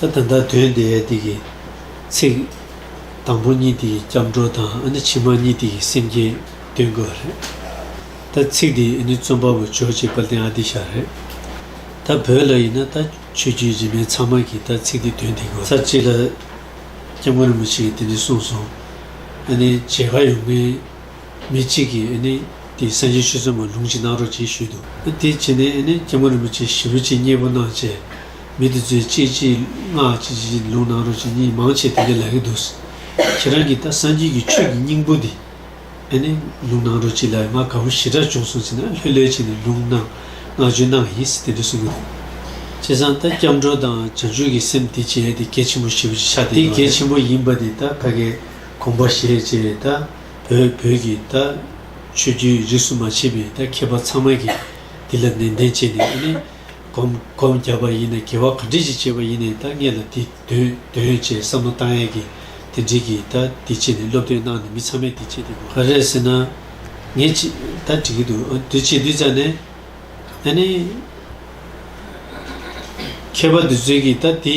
ད་ད་ལྟ་དོན་དེ་དེ་གི་ཚིག། དང་པོ་གཉིས་དེ་གི་སྐྱབས་འགྲོ་དང་ཨ་ནི་ཕྱི་མ་གཉིས་དེ་གི་སེམས་བསྐྱེད་སྟོན་དགོས་རེད། ད་ཚིག་དེ་ཨ་ནི་རྩོམ་པ་པོ་ཇོ་བྱེད་པ་ལྡན་ཨ་ཏི་ཤ་རེད། ད་བོད་ལ་ཡིན་ན་ད་ཆོས་བརྒྱུད་རིས་མེད་ཚང་མ་གིས་ད་ཚིག་དེ་དོན་དེ་དགོས་རེད། ཚར་གཅིག་ལ་སྐྱབས་མགོན་རིན་པོ་ཆེ་གིས་དེ་ནི་གསུངས་སོང། ཨ་ནི་བྱེད་དགའ་ཡོང་མིན། མི་གཅིག་གིས་ཨེ་ནི་དེའི་སངས་རྒྱས་ཆོས་ཚུལ་མ་ལུང་ཅིག་གནང་རོགས་ཅེས་ཞུས་འདུག་དེའི་རྗེས་ནས་ཨེ་ནི་སྐྱེ་བོ་རིན་པོ་ཆེ་ཞི་བུ་ཅིག་མཉེས་པོ་གནང་བཅས་མི་དེ་ཚོས་ཅེས་ཅི་སྔགས་ཅི་ཅི་ལུང་གནང་རོགས་ཅེས་གཉིས་མང་ཆེ་དེ་འདྲས་ལབ་ཀྱི་འདུག་ཁྱེད་རང་གིས་ད་སངས་རྒྱས་ཀྱི་ཆོས་ཀྱི་སྙིང་པོ་འདི་ཨེ་ནི་ལུང་གནང་རོགས་ཅེས་ལབ་ཡོད་ང་ག་བུ་ཞི་དྲག་བྱུང་སོང་ཟེར་ན་ལྷོད་ལྷོད་བྱས་ནས་ལུང་གནང་བསྔགས་བརྗོད་གནང་ཡིན་ཟེར་དེ་འདྲས་གསུང་གི་འདུག་བྱས་ཙང་ད་སྐྱབས་འགྲོ་དང་བྱང་ཆུབ་ཀྱི་སེམས་དེ་བྱས་ཏེ་སྐད་ཆེན་པོ་ཞི་བུ་ཅིག་ཆགས་བསྡད་ཡོད་རེད། དེ་སྐད་ཆེན་པོ་ཡིན་པ་དེ་ད་ཕ་གའི། གོམས་པ་བཞེས་རྗེས་ད་བོད་བོད་ཀྱི་ད་ཆོས་བརྒྱུད་རིས་སུ་མ་མཆིས་པའི་ད་མཁས་པ་ཚང་མ་གིས་འདི་ལ་ནན་ཏན་བྱས་ནས་ཨེ་ནས་གོམ་གོམ་བརྒྱབ་པ་ཡིན་ན་གེ་བ་ག་འདྲི་ཞིག་བྱས་པ་ཡིན་ནས་ད་ངེད་ལ་འདི་འདོན་འདོན་ཡོད་ཅེས་བསམ་བློ་བཏང་ཡས་ཀྱིས་དེ་འགྲིག་གི་ད་འདི་བྱས་ནས་སློབ་སྟོན་གནང་ནས་མི་ཚང་མས་འདི་བྱས་འདི་དགོས་ག་རེ་ཟེར་ན་ངེད་ཅིག་ད་འགྲིག་གི་འདུག་ཨ་འདི་བྱས་འདི་བྱ་ནས་ཨེ་ནས་མཁས་པ་འདི་ཚོས་ཀྱིས་ད་འདི།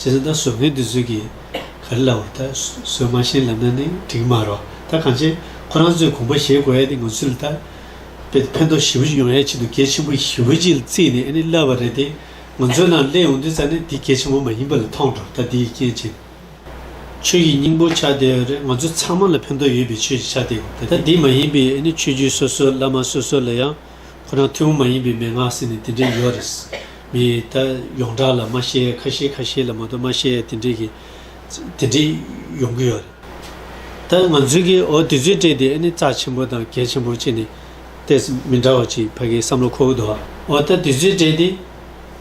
ཇི་ལྟར་གཟུགས་བརྙན་འདི་ཚོད་ཀྱིས་ག་རེ་ལབ་བར་ད་གཟོད་མ་ཤེས་ལབ་ན་ནི་འགྲིག་མ་རོ། ད་གང་ཆེ་ཁོ་རང་ཚོས་གོམ་པ་བཞེས་དགོས་ཨེ་ནི་ང་ཚོས་ལ་ད་དཔེ་ཕན་ཐོགས་ཞི་བུ་ཅིག་ཡོང་ཡ་ཆེད་དུ་སྐད་ཆེན་པོ་ཞི་བུ་ཅིག་བརྩིས་ནས་ཨེ་ནི་ལབ་པ་རེད་དེ། ང་ཚོའི་ནང་སླེབས་ཡོང་དུས་ཙང་ནི་དེ་སྐད་ཆེན་པོ་མ་ཡིན་པ་ལ་མཐོང་འགྲོ་ད་འདི་ཡི་རྐྱེན་ཅན། ཆོས་ཀྱི་སྙིང་པོ་ཆགས་བསྡད་རེད་ང་ཚོ་ཚང་མ་ལ་ཕན་ཐོགས་ཡོད་པའི་ཆོས་ཅིག་ཆགས་བསྡད་ཡོང་ད་འདི་མ་ཡིན་པའི་ཨེ་ནི་ཆོས་བརྒྱུད་སོ་སོ་བླ་མ་སོ་སོ་ལ་ཡང། ཁོ་རང་ཐུན་མོང་མ་ཡིན་པའི་མན་ངག་ཟེར་ནས་དེ་འདྲའི་ཡོད་རེད། མི་ད་ཡོངས་གྲགས་ལ་མ་ཤེས་ཡས་ཁ་ཤེས་ཁ་ཤེས་ལ་མ་གཏོགས་མ་ཤེས་ཡས་དེ་འདྲའི་གི་དེ་འདྲའི་ཡོང་གི་ཡོད་རེད། ད་ང་ཚོའི་གི་འོ་དེ་ཚོའི་གྲས་དེ་ཨེ་ནི་རྩ་ཆེན་པོ་དང་གལ་ཆེན་པོ་བྱས་ནས་ལྟས་མི་འདྲ་བ་ཅིག་ཕ་གིའི་བསམ་བློ་ཁོ་བོ་འདུག་ཨ། འོ་ད་དེ་ཚོའི་གྲས་དེ་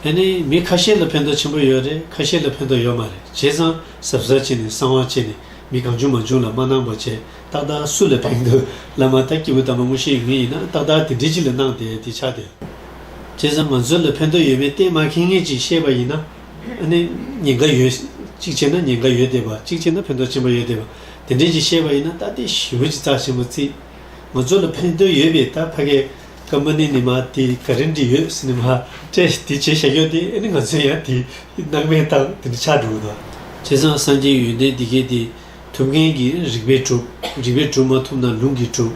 ཨེ་ནི་མི་ཁ་ཤས་ལ་ཕན་ཐོགས་ཆེན་པོ་ཡོད་རེད་ཁ་ཤས་ལ་ཕན་ཐོགས་ཡོད་མ་རེད་བྱས་ཙང་གཟབ་གཟབ་བྱས་ནས་གསང་བ་བྱས་ནས་མི་གང་བྱུང་མ་བྱུང་ལ་མ་གནང་པ་བྱས། ཏག་ཏག་སུ་ལ་ཕན་འདོད་བླ་མ་ལྟར་སྐྱེས་བུ་དམ་པ་དངོས་གཞི་ཡིན་ངེས་ཡིན་ན་ཏག་ཏག་དེ་འདྲི་གཅིག་ལ་གནང་སྟེ་དེ་ཆགས་ཏེ། བྱས་ཙང་ང་ཚོ་ལ་ཕན་འདོད་ཡོད་མེད་གཏན་མ་ཁེལ་ངེས་ཅིག་ཤེས་པ་ཡིན་ན། ནི་ཉེན་ཁ་ཡོད། གཅིག་བྱས་ན་ཉེན་ཁ་ཡོད་བསྡད་པ་གཅིག་བྱས་ན་ཕན་ཐོགས་ཆེན་པོ་ཡོད་བསྡད་པ་དེ་འདྲི་གཅིག་ཤེས་པ་ཡིན་ན་ལྟ་སྟེ་ཞི་བུ་གྱི་རྩ་ཆེན་པོ་རྩིས། ང་ཚོ་ལ་ཕན་འདོད་ཡོད་པས་ད་ཕ་གས་ཀ་མ་ནི་ནི་མ་དེ་ག་རེ་འདྲི་ཡོད་སི་ནི་མ་ཏྲེ་དེ་བྱས་ཤ་ཁྱོ་སྟེ་ནི་ང་ཚོའི་ཡང་དེ་གནང་མེད་སྟངས་དེ་འདྲི་ཆགས་འགྲོ་གི་འདུག། བྱས་ཙང་སངས་རྒྱས་ཡོན་ཏན་འདི་སྐད་དེ། ཐུབ་མཁན་གྱིས་རིག་པས་གྲུབ། རིག་པས་གྲུབ་མ་ཐུབ་ན་ལུང་གིས་གྲུབ།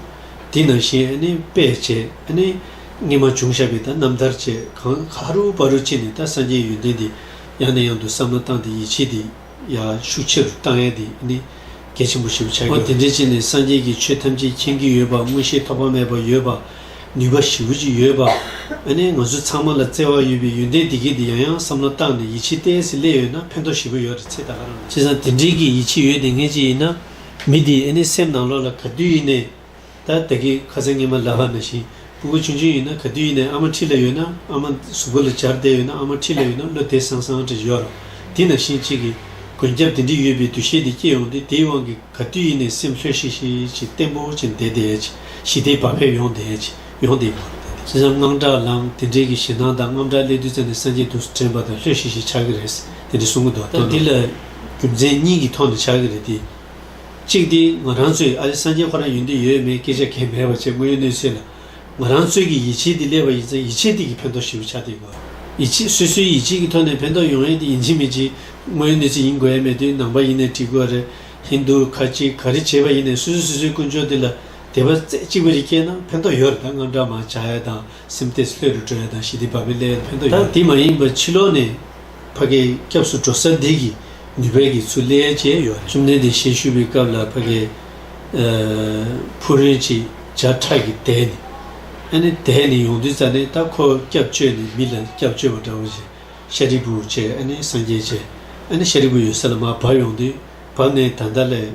དེས་ན་གཞན་ཨ་ནི་དཔེ་བྱས་ཨ་ནི། རྔན་མ་བྱུང་ཞབས་པས་ད་རྣམ་ཐར་བཅས་གང། ཧ་རུ་པ་རུ་ཅི་ནས་ད་སངས་རྒྱས་ཡོན་ཏན་འདི། ཡང་ནས་ཡང་དུ་བསམ་ན་བཏང་སྟེ་ཡིད་ཆེས་འདི། ཡར་ཞུ་ཕྱི་རུ་བཏང་ཡས་འདི་ཨ་ནི། གལ་ཆེན་པོ་ཞེས་པ་ཆགས་འགྱུར། དེ་འདྲའི་ཅི་ནས་སངས་རྒྱས་ཀྱི་ཆོས་ཐམས་ཅད་མཁྱེན་གྱི་ཡོད་པ་མངོན་ཤེས་ཐོགས་པ་མེད་པ་ཡོད་པ། ནུས་པ་ཞི་བོ་ཅིག་ཡོད་པ། ཨ་ནེ་ང་ཚོ་ཚང་མ་ལ་བརྩེ་བ་ཡོད་པའི་ཡོན་ཏན་དེ་གས་འདི་ཡང་ཡང་བསམ་བློ་བཏང་ནས་ཡིད་ཆེས་བརྟན་ཟིན་སླད་ཡོད་ན་ཕན་ཐོགས་ཞི་བོ་ཡོད་རེད་ཚེ་ད་ག་རང་ན། བྱས་ཙང་དེ་འདྲིའི་གི་ཡིད་ཆེས་ཡོད་དེ་ངས་ཅི་ཡིན་ན། མི་དེའི་ཨ་ནེ་སེམས་ནང་ལོག་ལ་ག་དུས་ཡིན་ནས། ད་ད་གི་ཁ་ཚ་ངན་མ་ལ་བ་ན་ཞིང་སྤུ་གུ་ཆུང་ཆུང་ཡིན་ན་ག་དུས་ཡིན་ནས་ཨ་མ་འཁྲིས་ལ་ཡོད་ན་ཨ་མ་གཟུགས་པོ་ལ་འབྱར་བསྡད་ཡོད་ན་ཨ་མ་འཁྲིས་ལ་ཡོད་ན་བློ་དེད་སང་སང་རེད་ཡོད་ར་དེ་ན་ཞིང་གཅིག་གི། མགོན་སྐྱབས་དེ་འདྲི་ཡོད་པའི་འདུ་ཤེས་དེ་སྐྱེས་ཡོང་སྟེ་དེའི་དབང་གིས། ག་དུས་ཡིན་ནས་སེམས་ལྷོད་ཤིག་ཤིག་ཅིག་བརྟན་པོ་ཅིག་འདེད་དེ། ཞི་བདེའི་བག་ཕེབས་ཡོང་དེ། ཡོང་དེ། ཅི་ཙམ་དངངས་སྐྲག་ལངས་དེ་འདྲའི་གི་ཞེ་སྣང་དང་རྔམ་སྐྲག་སླེབས་དུས་ཙམ་ནས་སངས་རྒྱས་དུག་སུ་དྲན་པ་དང་ལྷོད་ཤིག་ཤིག་ཆགས་ཀྱི་རེད་དེ་འདྲའི་གསུང་གི་མདོག་སྟོན་ན། འདི་ལ་རྒྱུ་མཚན་གཉིས་ཀྱི་ཐོག་ནས་ཆགས་ཀྱི་རེད་དེ། གཅིག་དེ་ང་རང་ཚོས་ཨ་རི་སངས་རྒྱས་ཁོ་རང་ཡོད་འདི་ཡོད་མེད་སྐད་ཆ་གལ་མེད་པ་བཅས་དངོས་ཡོད་གནས་ཚུལ་ལ། ང་རང་གཙོས་ཀྱི་ཡིད་ཆེས་དེ་སླེབས་པ་ཡིན་ཚེ་ཡིད་ཆེས་དེ་གྱིས་ཕན་ཐོགས་ཞུ་ཆ་དེ་གོ། ཡིད་ཆེས་སོ་སོའི་ཡིད་ཆེས་ཀྱི་ཐོག་ནས་ཕན་ཐོགས་ཡོང་ཡས་དེ་ཡིན་ཅིག་མིན་ཅིག་དངོས་ཡོད་གནས་ཚུལ་ཡིན་དགོས་ཡས་མེད་དུས་ནང་པ་ཡིན་ནས་དྲིས་དགོས་རེད་ཧིན་དུ་ཁ་ཅིག་ག་རེ་བྱས་པ་ཡིན་ནས་སོ་སོས་སོ་སོའི་ཀུན་སྤྱོད་དེ་ལ་དད་པ་རྩེ་གཅིག་པ་རེ་སྐྱེས་ན་ཕན་ཐོགས་ཡོད་རེད་ད་དངངས་སྐྲག་མང་བྱ་ཡས་དང་སེམས་གཏད་ལྷོད་རུ་འགྲོ་ཡས་དང་ཞི་བདེ་བག་ཕེབས་སླེ་ཡས་ཕན་ཐོགས་ཡོད་རེད། ད་དེ་མ་ཡིན་པར་ཕྱི་ལོགས་ནས། ཕ་གི་སྐྱབས་སུ་འགྲོ་ས་འདི་གི་ནུས་པས་གི་ཚུ་ལས་བྱས་ཡོད། བཅོམ་ལྡན་འདས་ཞལ་བཤུས་པའི་སྐབས་ལ་ཕ་གི་ཕུ་རིན་ཅིག་བྱ་ཁྲག་གི་དལ་ནི། ཨ་ནི་དལ་ནི་ཡོང་དུས་ཙ་ནི་ད་ཁོ་སྐྱབས་བཅོལ་ནི་མི་ལ་སྐྱབས་བཅོལ་བ་འདྲ་བོ་བྱས་ཤཱ་རིའི་བུ་བྱས་ཨ་ནི་སངས་རྒྱས་བྱས་ཨ་ནི་ཤཱ་རིའི་བུ་ཡོད་ས་ལ་མ་བབས་ཡོང་དུས་བབས་ནས་ད་ལྟ་ལས།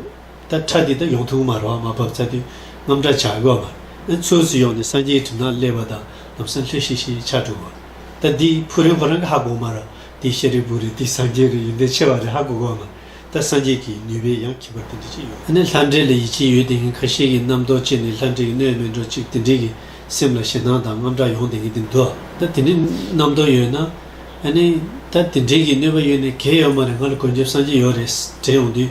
ད་ཁྲ་འདི་དག་ཡོང་ཐུག་མ་རོ་མ་བབ་ཚ་དུས་རྔམ་དྲག་བྱ་དགོས་མ་ཨེ་ཚོད་ཟིག་ཡོང་ནས་སངས་རྒྱས་གྲིབ་ནག་སླེ་བ་དང་ལམ་སང་སླེ་ཤིག་ཤིག་ཆ་དྲུག་གོ་ད་འདི་ཕུ་རེ་ཧོ་རང་གི་ཧ་གོ་མ་རོ་འདི་ཤེ་རེ་བུ་རེ་འདི་སངས་རྒྱས་རེ་ཡིན་འདི་ཆེ་བ་རེ་ཧ་གོ་གོ་མ་ད་སངས་རྒྱས་ཀྱི་ནུས་པའི་ཡང་ཁྱིམ་པ་དེ་འདྲ་ཅིག་ཡོད། ཨ་ནི་ལྷ་འདྲེ་ལ་ཡིད་ཆེས་ཡོད་དེ་ངས་ཁ་ཤས་ཀྱི་རྣམ་རྟོག་ཅེས་ནས་ལྷ་འདྲེ་ཡི་སྣོད་མེད་འགྲོ་ཅིག་དེ་འདྲས་ཀྱི་སེམས་ལ་ཞེ་སྣང་དང་རྔམ་དྲག་ཡོང་དེ་ངས་འདི་འདུག་ད་དེ་འདྲས་རྣམ་རྟོག་ཡོད་ན་ཨ་ནི་ད་དེ་འདྲས་ཀྱི་གནོད་པ་ཡོད་ནས་གས་ཡོད་མ་རེད་ང་ལ་གོན་རྒྱབ་སངས་རྒྱས་ཡོད་རེད་ཟེར་འདྲེ་ཡོང་དུས།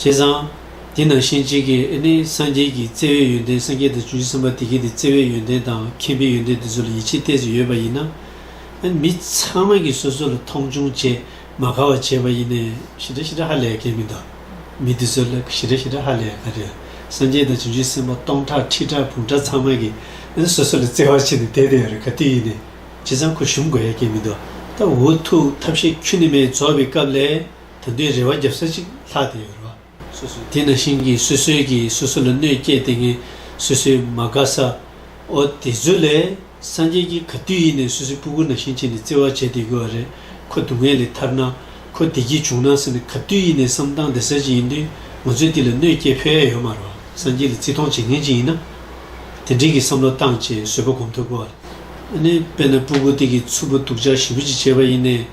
བྱས་ཙང། དེ་ནང་བཞིན་གཅིག་གིས་ཨེ་ནི་སངས་རྒྱས་ཀྱིས་བརྩེ་བའི་ཡོན་ཏན་སངས་རྒྱས་དང་བཅུ་བཞི་གསུམ་པ་དེ་གས་དེ་བརྩེ་བའི་ཡོན་ཏན་དང་མཁྱེན་པའི་ཡོན་ཏན་དེ་ཚོ་ལ་ཡིད་ཆེས་གཏད་སོ་ཡོད་པ་ཡིན་ན། མི་ཚང་མ་གིས་སོ་སོ་ལ་མཐོང་ཆུང་བྱས་མ་དགའ་བ་བྱས་པ་ཡིན་ནས། ཞི་དྲག་ཞི་དྲག་ཧ་ལས་གལ་མི་འདུག་མི་དེ་ཚོ་ལ་ཞི་དྲག་ཞི་དྲག་ཧ་ལས་གལ་རེད། སངས་རྒྱས་དང་བཅུ་བཞི་སེམས་དཔའ་སྟོང་ཕྲག་ཁྲི་ཕྲག་བུང་ཕྲག་ཚང་མ་གིས་སོ་སོ་ལ་བརྩེ་བ་བྱས་ནས་དེ་དེ་ཡོད་རེད་ག་དུས་ཡིན་ནས་བྱས་ཙང་ཁོ་ཞུམ་དགོས་ཡ་གལ་མི་འདུག་ད་འུ་ཐུག་ཐབས་ཤེས་ཁྱུ་ནི་མའི་རྫོགས་པའི་སྐབས་ལས། ད་ལྟའི་རེ་བ་བརྒྱབ་ས་གཅིག་ལྷག་དེ་ཡོད་རེད་བ། དེ་ན་ཤིང་གིས་སོ་སོའི་གིས་སོ་སོ་ལ་གནོད་བསྐྱལ་ཏེ་ངན་སོ་སོས་མ་དགའ་ས། འོ་དེ་ཚོ་ལས་སངས་རྒྱས་ཀྱིས་ག་དུས་ཡིན་ནས་སོ་སོའི་སྤུ་གུ་ན་ཤིང་བྱས་ནས་བརྩེ་བར་བྱེད་དེ་དགོས་བ་རེད་ཁོ་སྡུག་བསྔལ་ལས་ཐར་ན་ཁོ་བདེ་སྐྱིད་བྱུང་ན་ཟེར་ནས་ག་དུས་ཡིན་ནས་བསམ་སྟངས་དེ་ཟེར་གྱི་ཡིན་དུས་ང་ཚོས་དེ་ལ་གནོད་བསྐྱལ་ཕོད་ཡ་ཡོད་མ་རེད་བ་སངས་རྒྱས་ལ་བརྩི་མཐོང་བྱེད་མཁན་ཅིག་ཡིན་ན། དེ་འགྲིག་གི་བསམ་བློ་བཏང་བཅས་བཟོད་པ་སྒོམ་ཐུབ་དགོས་བ་རེད། དཔེར་ན་སྤུ་གུ་སྟེ་གི་ཚུ་བུ་སྡུག་ཅག་ཞི་བུ་ཅིག་བྱས་པ་ཡིན་ནས།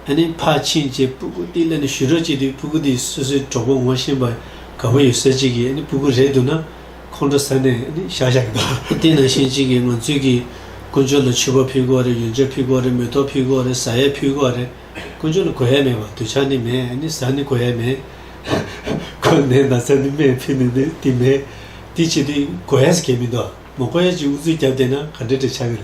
ཨ་ནེ་ཕ་ཕྱིན་ཅེས་སྤུ་གུ་ཏི་ལ་ནས་ཞུ་རོགས་བྱས་དུས་སྤུ་གུ་ཏིས་སོ་སོའི་གྲོགས་པོ་ངོ་ཤེས་པ་ག་བུ་ཡོད་ཟེར་གཅིག་གིས་ཨ་ནེ་སྤུ་གུ་རེད་འདུག་ན་ཁོང་ཁྲོ་ཟ་ནས་ཨ་ནེ་བཞག་བཞག་གི་འདུག། དེ་ནང་བཞིན་གཅིག་གིས་ང་ཚོས་ཀྱི་དཀོན་མཆོག་ལ་ཆུ་བ་ཕུལ་དགོས་རེད་ཡོན་ཆབ་ཕུལ་དགོས་རེད་མེ་ཏོག་ཕུལ་དགོས་རེད་བཟའ་ཡས་ཕུལ་དགོས་རེད་དཀོན་མཆོག་ལ་གོ་ཡས་མེད་པ་དུ་ཆ་ནི་མེད་ཨ་ནེ་བཟའ་ནི་གོ་ཡས་མེད། ཁོས་ནད་ན་ཚ་ནི་མེད་ཕུལ་ནི་འདི་དེ་མེད་དེ་བྱས་དུས་གོ་ཡས་ཀྱི་མི་འདུག་མ་གོ་ཡས་ཀྱི་འུ་ཚོས་རྒྱབ་བསྟེན་ན་ག་འདྲ་འདྲ་ཆགས་ཀྱི་རེད།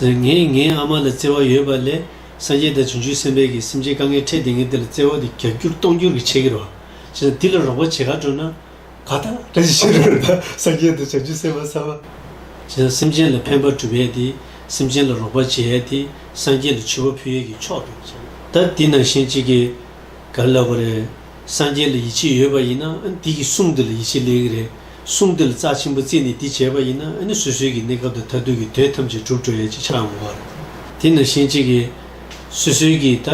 ངས་ངའི་ཨ་མ་ལ་བརྩེ་བ་ཡོད་པ་ལས་སངས་རྒྱས་དང་བྱུང་ཆུད་སེམས་དཔའ་གིས་སེམས་ཅན་དཀའ་ངལ་འཕྲད་དེ་ངས་དེ་ལ་བརྩེ་བ་དེ་རྒྱག་རྒྱུར་གཏོང་རྒྱུར་གྱི་ཆེ་གི་རོ། ཅེས་དང་དེ་ལ་རོགས་པ་བྱེད་ག་འགྲོ་ན། ག་ད། ད་ཅི་ཕྱིར་རོ། ད་སངས་རྒྱས་དང་བྱང་ཆུབ་སེམས་དཔའ་ཚ་བ། ཅེས་དང་སེམས་ཅན་ལ་ཕན་པར་སྒྲུབ་ཡས་ཏེ། སེམས་ཅན་ལ་རོགས་པར་བྱེད་ཡས་ཏེ་སངས་རྒྱས་ལ་མཆོད་པ་ཕུལ་ཡས་ཀྱི་མཆོག་ཏུ་བྱས་ན། ད་དེ་ནང་བཞིན་གཅིག་གིས་ག་ལ་ལབ་པ་རེད། སངས་རྒྱས་ལ་ཡིད་ཆེས་ཡོད་པ་ཡིན་ན་ཨ་ནི་དེ་གི་གསུང་དེ་ལ་ཡིད་ཆེས་སླེལ་གི་རེད། གསུང་དེ་ལ་རྩ་ཆེན་པོ་རྩིས་ནས་འདི་བྱས་པ་ཡིན་ན་ནི་སོ་སོའི་གི་གནས་སྐབས་དང་མཐར་ཐུག་གི་དོན་ཐམས་ཅད་གྲུབ་འགྲོ་ཡས་ཅི་ཆ་འོང་བ། དེས་ན་གཞན་གཅེས་ཀྱི་སོ་སོའི་གི་ད་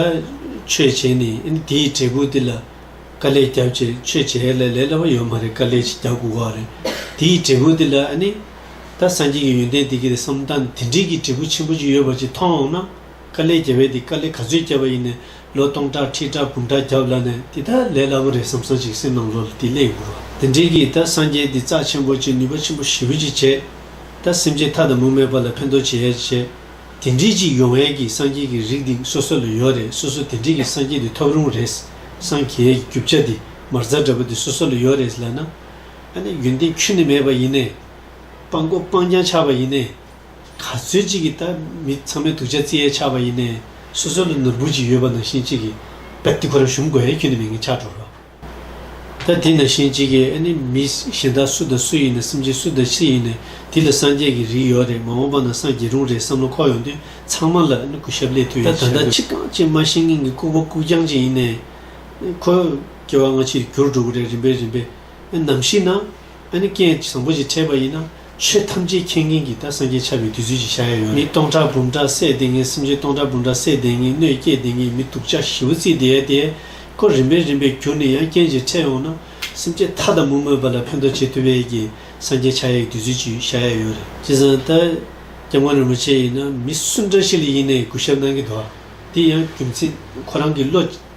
ཆོས་བྱས་ནས་ནི་དེའི་འབྲས་བུ་དེ་ལ་དཀའ་ལས་རྒྱབ་ཅེས་ཆོས་བྱས་ཡས་ལས་ལས་སླ་བ་ཡོད་མ་རེད་དཀའ་ལས་ཅིག་རྒྱབ་དགོས་བ་རེད་དེའི་འབྲས་བུ་དེ་ལ་ནི་ད་སངས་རྒྱས་ཀྱི་ཡོན་ཏན་དེ་གི་རེད་བསམ་ད་དེ་འདྲིའི་གི་འབྲས་བུ་ཆེན་པོ་ཅིག་ཡོད་པ་ཅིག་མཐོང་འོང་ན་དཀའ་ལས་རྒྱབ་ཡས་དེ་དཀའ་ལས་ག་ཚོད་རྒྱབ་པ་ཡིན་ནས་ལོ་སྟོང་ཕྲག་ཁྲི་ཕྲག་དགུ་ཕྲག་བརྒྱ་བླ་ནས་འདི་ལྟར་ལས་སླ་པོ་རེད་བསམ་བསམ་ཅིག་སེམས་ནང་ལོ་ལ་དེ་སླད་ཡོང་རོགས་དེ་འདྲས་ཀྱིས་ད་སངས་རྒྱས་འདི་རྩ་ཆེན་པོ་གཅིག་ནུས་པ་ཆེན་པོ་ཞེ་བུ་གཅིག་བྱས་ད་སེམས་ཅན་ཐ་དང་མུ་མེད་པ་ལ་ཕན་ཐོགས་བྱེད་ཡས་ཅིག་བྱས་དེ་འདྲས་ཅིག་ཡོང་ཡས་ཀྱིས་སངས་རྒྱས་ཀྱི་རིགས་འདིང་སོ་སོ་ལ་ཡོད་རེད་སོ་སོ་དེ་འདྲས་ཀྱིས་སངས་རྒྱས་འདི་ཐོབ་རུང་རེད་སངས་རྒྱས་ཀྱི་རྒྱུ་བྱ་འདི་མར་རྫ་འདྲ་པོ་འདི་སོ་སོ་ལ་ཡོད་རེད་ལབ་ན། ཨ་ནི་ཡོན་ཏན་ཆུད་ནས་མེད་པ་ཡིན་ནས། སྤང་སྒོ་སྤང་རྐྱང་ཆགས་པ་ཡིན་ནས། ག་ཚོད་ཅིག་གིས་ད་མི་ཚང་མའི་དུག་ཆ་རྩི་ཡས་ཆགས་པ་ཡིན་ནའི་སོ་སོ་ལ་ནོར་འབུར་ཅིག་ཡོད་པ་ནང་བཞིན་ཅིག་གིས་པད་ཏི་ཁོ་རང་ཞུམ་དགོས་ཡས་ཁྱོད་ནི་མི་ངན་ཆགས་འགྲོ་རོགས། ད་དེ་ནང་བཞིན་ཅིག་གིས་ཨ་ནི་མི་གཞན་དག་སུ་དང་སུ་ཡིན་ནའི་སེམས་ཅན་སུ་དང་ཅི་ཡིན་ནའི་དེ་ལ་སངས་རྒྱས་ཀྱི་རིགས་ཡོད་རེད་མ་འོངས་པ་ན་སངས་རྒྱས་རུང་རེད་བསམ་བློ་འཁོར་ཡོང་དུས་ཚང་མ་ལ་ཨ་ནི་གུ་ཞབས་ལས་ཐོས་ཡོད་ད་ད་ལྟ་ཕྱི་རྐང་ཅན་མ་ཤེས་ངན་གྱི་ལྐུགས་པ་ལྐུགས་རྐྱང་ཅིག་ཡིན་ནའི་ཁོ་སྐྱེ་བ་སྔ་ཕྱིར་འགྱུར་འགྲོ་གི་རེད་རིམ་པས་རིམ་པས་ཨ་ནམ་ཞིག་ན་ཨ་ནི་རྐྱེན་བཟང་པོ་ཞིག་འཕྲད་པ་ཡིན་ན། ཆོས་ཐམས་ཅད་མཁྱེན་མཁན་གྱི་ད་སངས་རྒྱས་ཆགས་པའི་དུས་ཚོད་ཅིག་ཤར་ཡ་ཡོད་རེད། མི་སྟོང་ཕྲག་འབུམ་ཕྲག་བསད་བསྡད་མཁན་སེམས་ཅན་སྟོང་ཕྲག་འབུམ་ཕྲག་བསད་བསྡད་མཁན་གནོད་བསྐྱེད་བསྡད་མཁན་མི་སྡུག་ཅག་ཞི་བོ་རྩིས་བསྡད་ཡ་དེ། ཁོ་རིམ་པས་རིམ་པས་བསྒྱུར་ནས་ཡང་རྐྱེན་ཞིག་འཕྲད་ཡོང་ན། སེམས་ཅན་མཐའ་དང་མུ་མེད་པ་ལ་ཕན་ཐོགས་བྱེད་ཐུབ་ཡས་ཀྱི་སངས་རྒྱས་ཆགས་ཡས་ཀྱི་དུས་ཚོད་ཅིག་ཤར་ཡ་ཡོད་རེད། བྱས་ཙང་ད། སྐྱབས་མགོན་རིན་པོ་ཆེ་ཡིན་ན་མི་སུ་འདྲ་ཞིག་ལ་ཡིན་ནས་གུས་ཞབས་གནང་གི་འདུག་ཨ། དེ་ཡང་རྒྱུ་མཚན་ཁོ་རང་གི་བློ།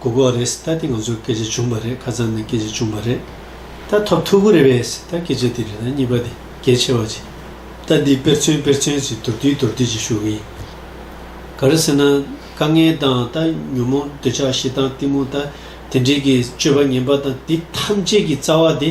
གོ་གོ་རེད་ད་དེ་ང་ཚོ་སྐད་ཆ་བྱུང་པ་རེད་ཁ་ཙམ་ནས་སྐད་ཆ་བྱུང་པ་རེད་ད་ཐོབ་ཐུག་གི་རེད་བས་ད་སྐད་ཆ་དེ་རེད་ད་གཉིས་པ་དེ་གལ་ཆེ་བ་ཅིག་ད་འདི་དཔེར་མཚོན་དཔེར་མཚོན་ཅིག་མདོར་བསྡུས་མདོར་བསྡུས་ཅིག་ཞུ་གི་ཡིན། ག་རེ་ཟེར་ན་དཀའ་ངལ་དང་ད་ཉོན་མོངས་འདོད་ཆགས་ཞེ་སྡང་གཏི་མུག་ད་དེ་འདྲེས་ཀྱི་སྤྱོད་པ་ངན་པ་དང་དེ་ཐམས་ཅད་ཀྱི་རྩ་བ་དེ་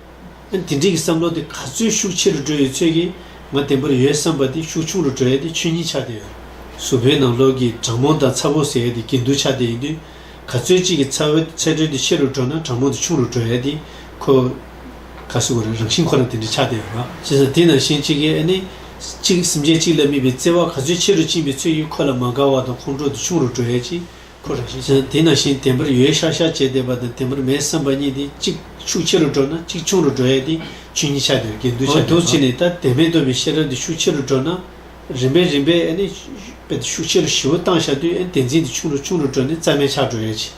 དེ་འདྲིས་ཀྱི་བསམ་བློ་དེ་ག་ཚོད་ཤུགས་ཆེ་རུ་འགྲོ་ཡོད་ཚོད་ཀྱིས་ང་བདེན་པོར་ཡོད་བསམ་པ་དེ་ཤུགས་ཆུང་རུ་འགྲོ་ཡས་དེ་ཆོས་ཉིད་ཆགས་དེ་ཡོད། གཟུ་བོའི་ནང་ལོགས་ཀྱི་དྲང་མོ་དང་ཚ་བོ་ཟེར་ཡས་དེ་གྱེན་དུ་ཆགས་དེ་ཡིན་དུས། ག་ཚོད་གཅིག་གི་ཚ་བོའི་ཚད་མཐོན་དེ་ཆེ་རུ་འགྲོ་ན་དྲང་མོ་དེ་ཆུང་རུ་འགྲོ་ཡས་དེ་ཁོ། ག་སུ་གོ་རེད་རང་བཞིན་ཁོ་རང་དེ་འདྲིས་ཆགས་དེ་ཡོད། བྱས་ཙང་དེ་ནང་བཞིན་གཅིག་གིས་ཨེ་ནི། གཅིག་སེམས་ཅན་གཅིག་ལ་དམིགས་པའི་བརྩེ་བ་ག་ཚོད་ཆེ་རུ་བཅིངས་པའི་ཚོད་ཀྱིས་ཁོ་ལ་མ་དགའ་བ་དང་ཁོང་ཁྲོ་དེ་ཆུང་རུ་འགྲོ་ཡས་ཀྱི། ཁོ་རང་ཤེས་བྱ་དེ་ནང་བཞིན་དེ་འཕར་ཡོད་ཤག་ཤག་བྱས་བསྡད་པ་དང་དེ་འཕར་མེད་བསམ་པ་གཉིས་དེ་གཅིག་ཤུགས་ཆེ་རུ་འགྲོ་ན་གཅིག་ཆུང་རུ་འགྲོ་ཡ་དེ་ཆུ་གཉིས་ཆ་དེར་འགལ་འདུ་ཆགས་འདུག་ཅེས་ནས་ད་དེ་མེད་འདོད་པའི་ཤེས་རབ་དེ་ཤུགས་ཆེ་རུ་འགྲོ་ན་རིམ་པས་རིམ་པས་ཨ་ནི་པའི་དེ་ཤུགས་ཆེ་རུ་ཞི་བོ་བཏང་བཞག་དུས་ཨ་ནི་དེ་འཛིན་དེ་ཆུང་རུ་ཆུང་རུ་འགྲོ་ནས་རྩ་མེད་ཆགས་འགྲོ་ཡ་ཅི་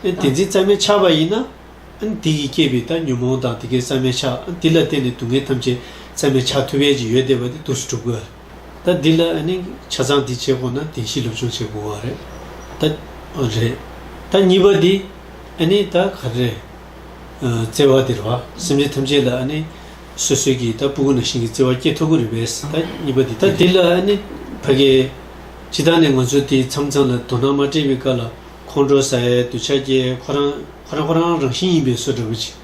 ཨ་ནི་དེ་འཛིན་རྩ་མེད་ཆགས་པ་ཡིན་ན་ཨ་ནི་དེ་གིས་བསྐྱེད་པའི་ད་ཉོན་མོངས་དང་དེ་གས་རྩ་མེད་ཆགས་ཨ་ནི་དེ་ལ་བརྟེན་ནས་སྡུག་བསྔལ་ཐམས་ཅད་རྩ་མེད་ཆགས་ཐུབ་ཡ་ཅི་ཡོད་བསྡད་པ་དེ་དུས་སུ་གྲུབ་དགོས། ད་འདི་ལ་ཨ་ནི་ཆ་ཚང་འདི་བྱེད་དགོས་ན་དེ་བཞིན་སློབ་སྦྱོང་བྱེད་དགོས་བ་རེད། ད་རེད། ད་གཉིས་པ་འདི་ཨ་ནི་ད་ག་རེ་རེད། བརྩེ་བ་འདིར་བ་སེམས་ཅན་ཐམས་ཅད་ལ་ཨ་ནི་སོ་སོའི་གི་ད་སྤུ་གུ་ན་ཤིང་གི་བརྩེ་བ་སྐྱེ་ཐུབ་གི་རེད་པས་ད་གཉིས་པ་འདི་ད་འདི་ལ་ཨ་ནི་ཕ་གི་ཇི་ལྟར་ནས་ང་ཚོ་དེ་མཚམས་མཚམས་ལ་དོ་སྣང་མ་སྤྲད་པའི་བཀའ་ལ་ཁོང་ཁྲོ་ཟ་ཡའི་འདུ་བྱ་སྐྱེ་ཁོ་རང་ཁོ་རང་ཁོ་རང་རང་བཞིན་ཡིན་པས་སོ་འདྲ་པོ་བྱེད།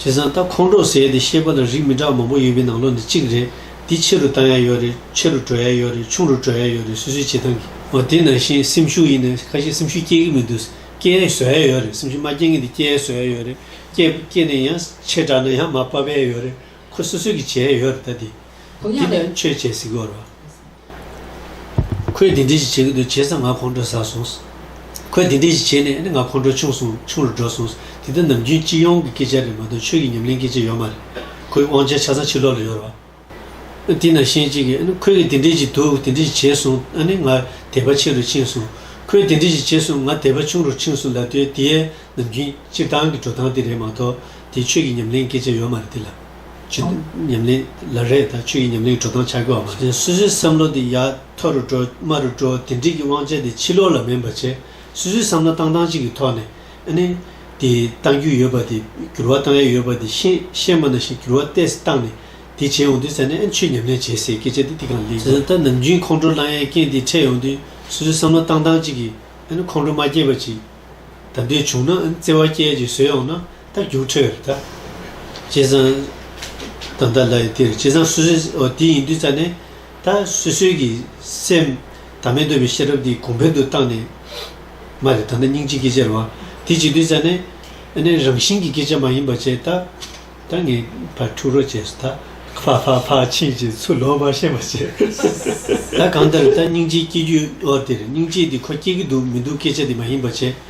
བྱས་ཙང་ད་ཁོང་ཁྲོ་ཟས་དེ་ཤེས་པ་ལ་རིགས་མི་འདྲ་བ་མང་པོ་ཡོད་པའི་ནང་ལོགས་འདི་གཅིག་རེད་འདི་ཆེ་རུ་བཏང་ཡ་ཡོད་རེད་ཆེ་རུ་བྲོ་ཡ་ཡོད་རེད་ཆུང་རུ་བྲོ་ཡ་ཡོད་རེད་སུས་སུས་བྱེད་སྟངས་ཀྱིས་འོ་དེ་ནང་བཞིན་སེམས་ཤུགས་ཡིན་ནས་ཁ་ཤས་སེམས་ཤུགས་སྐྱེ་གི་མི་འདུག་སྐྱེ་ཡ་བཟོ་ཡ་ཡོད་རེད་སེམས་ཤུགས་མ་སྐྱེ་ངེས་དེ་སྐྱེ་ཡ་བཟོ་ཡ་ཡོད་རེད་སྐྱེ་སྐྱེ་ནས་ཡང་ཆེ་དྲགས་ན་ཡང་མ་དཔའ་བས་ཡོད་རེད་ཁོ་སོ་སོས་ཀྱིས་བྱས་ཡ་ཡོད་རེད་ད་དེ་དེ་ནས་ཆོས་བྱས་ཟིག་གོ་རོ། ཁོས་དེ་འདྲས་ཞིག་བྱེད་གི་འདུག་བྱས་ཙང་ང་ཁོང་ཁྲོ་ཟ་སོང། ཁོས་དེ་འདྲས་ཞིག་བྱས་ནས་ང་ཁོང་ཁྲོ་ཆུང་སོང་ཆུང་རུ་འགྲོ་སོང། དེ་ད་ནམ་རྒྱུན་སྤྱི་ཡོངས་ཀྱི་སྐད་ཆ་རེད་མ་གཏོགས་ཆོས་ཀྱི་ཉམས་ལེན་སྐད་ཆ་ཡོད་མ་རེད། ཁོའི་དབང་ཆ་ཆ་ཚང་ཕྱི་ལོག་ལ་ཡོད་རོགས། དེས་ན་ཤེས་ཅིག་ཁོས་གིས་དེ་འདྲས་ཞིག་འདུག་དེ་འདྲས་ཞིག་བྱས་སོང་ཨ་ནི་ང་དད་པ་ཆེ་རུ་ཕྱིན་སོང། ཁོས་དེ་འདྲས་ཞིག་བྱས་སོང་ང་དད་པ་ཆུང་རུ་ཕྱིན་སོང་ལབ་དེ་དེ་ནམ་རྒྱུན་སྤྱིར་བཏང་གི་འགྲོ་སྟངས་དེ་རེད་མ་གཏོགས་དེ་ཆོས་ཀྱི་ཉམས་ལེན་སྐད་ཆ་ཡོད་མ་རེད་དེ་ལ། ཆུ་དང་ཉམས་ལེན་ལ་རེས་དང་ཆུ་ཡི་ཉམས་ལེན་འགྲོ་སྟངས་ཆགས་ཀྱི་བ་མ་རེད་སུད་སུའི་བསམ་བློ་དེ་ཡ་མཐོ་རུ་འགྲོ་དམའ་རུ་འགྲོ་དེ་འགྲིག་གི་དབང་ཆ་དེ་ཕྱི་ལོག་ལ་མིན་པ་བྱས་སུད་སུའི་བསམ་བློ་བཏང་སྟངས་གཅིག་གི་ཐོག་ནས་ཨ་ནི་དེ་གཏང་རྒྱུ་ཡོད་པ་དེ་འགྱུར་བ་གཏང་ཡ་ཡོད་པ་དེ་ཤེས་ཤེས་མ་ན་ཞིག་འགྱུར་བ་བལྟས་བཏང་ནས་དེ་བྱས་ཡོང་དུས་ས་ནས་ཨ་ནི་ཆུ་ཉམས་ལེན་བྱས་ཟེར་སྐད་ཆ་དེ་དེ་གང་ལེགས་ཟེར་ད་ནམ་རྒྱུན་ཁོང་ཁྲོ་བསླང་ཡའི་རྐྱེན་དེ་འཕྲད་ཡོང་དུས་སུད་སུའི་བསམ་བློ་བཏང་སྟངས་གཅིག་གིས་ཨ་ནི་ཁོང་ཁྲོ་མ་སྐྱེས་པ་ཅིག་ད་འདོད་བྱུང་ན་ཨ་ནི་བརྩེ་བ་སྐྱེས་ཅིག་བཟོས་ཡོང་ན། ད་རྒྱུགས་འཕྲོད་རེད་ད། བྱས་ཙང། ད་ལྟ་ལ་ཡི་དེར་བྱས་ཙང་སུ་སུའི་འོ་དེ་ཡིན་དུས་ཙང་ནས། ད་སུས་སུས་ཀྱི་སེམས། ད་མེད་འདོད་པའི་ཤེས་རབ་དེ་གོང་འཕེལ་དུ་བཏང་ནས། མ་རེད་ད་ནི་སྙིང་རྗེའི་སྐད་ཆ་རེད་བ། དེ་བྱས་དུས་ཙང་ནས། ནས་རང་བཞིན་གྱི་སྐད་ཆ་མ་ཡིན་པ་བྱས་ད། ད་ངས་ཕར་འཁྲུག་རོགས་བྱས་སོ་ད། ཕ་ཕ་ཕ་ཕྱིན་ཅི་ཚུལ་ལོག་པར་ཤེས་པར་བྱས། ད་གང་ལྟར་ད་སྙིང་རྗེའི་སྐྱེས་རྒྱུད་འོ་དེར་སྙིང་རྗེ་དེ་ཁོ་སྐྱེས་ཀྱི་འདུག་མི་འདུག་སྐད་ཆ་དེ་མ་ཡིན་པ་བྱས།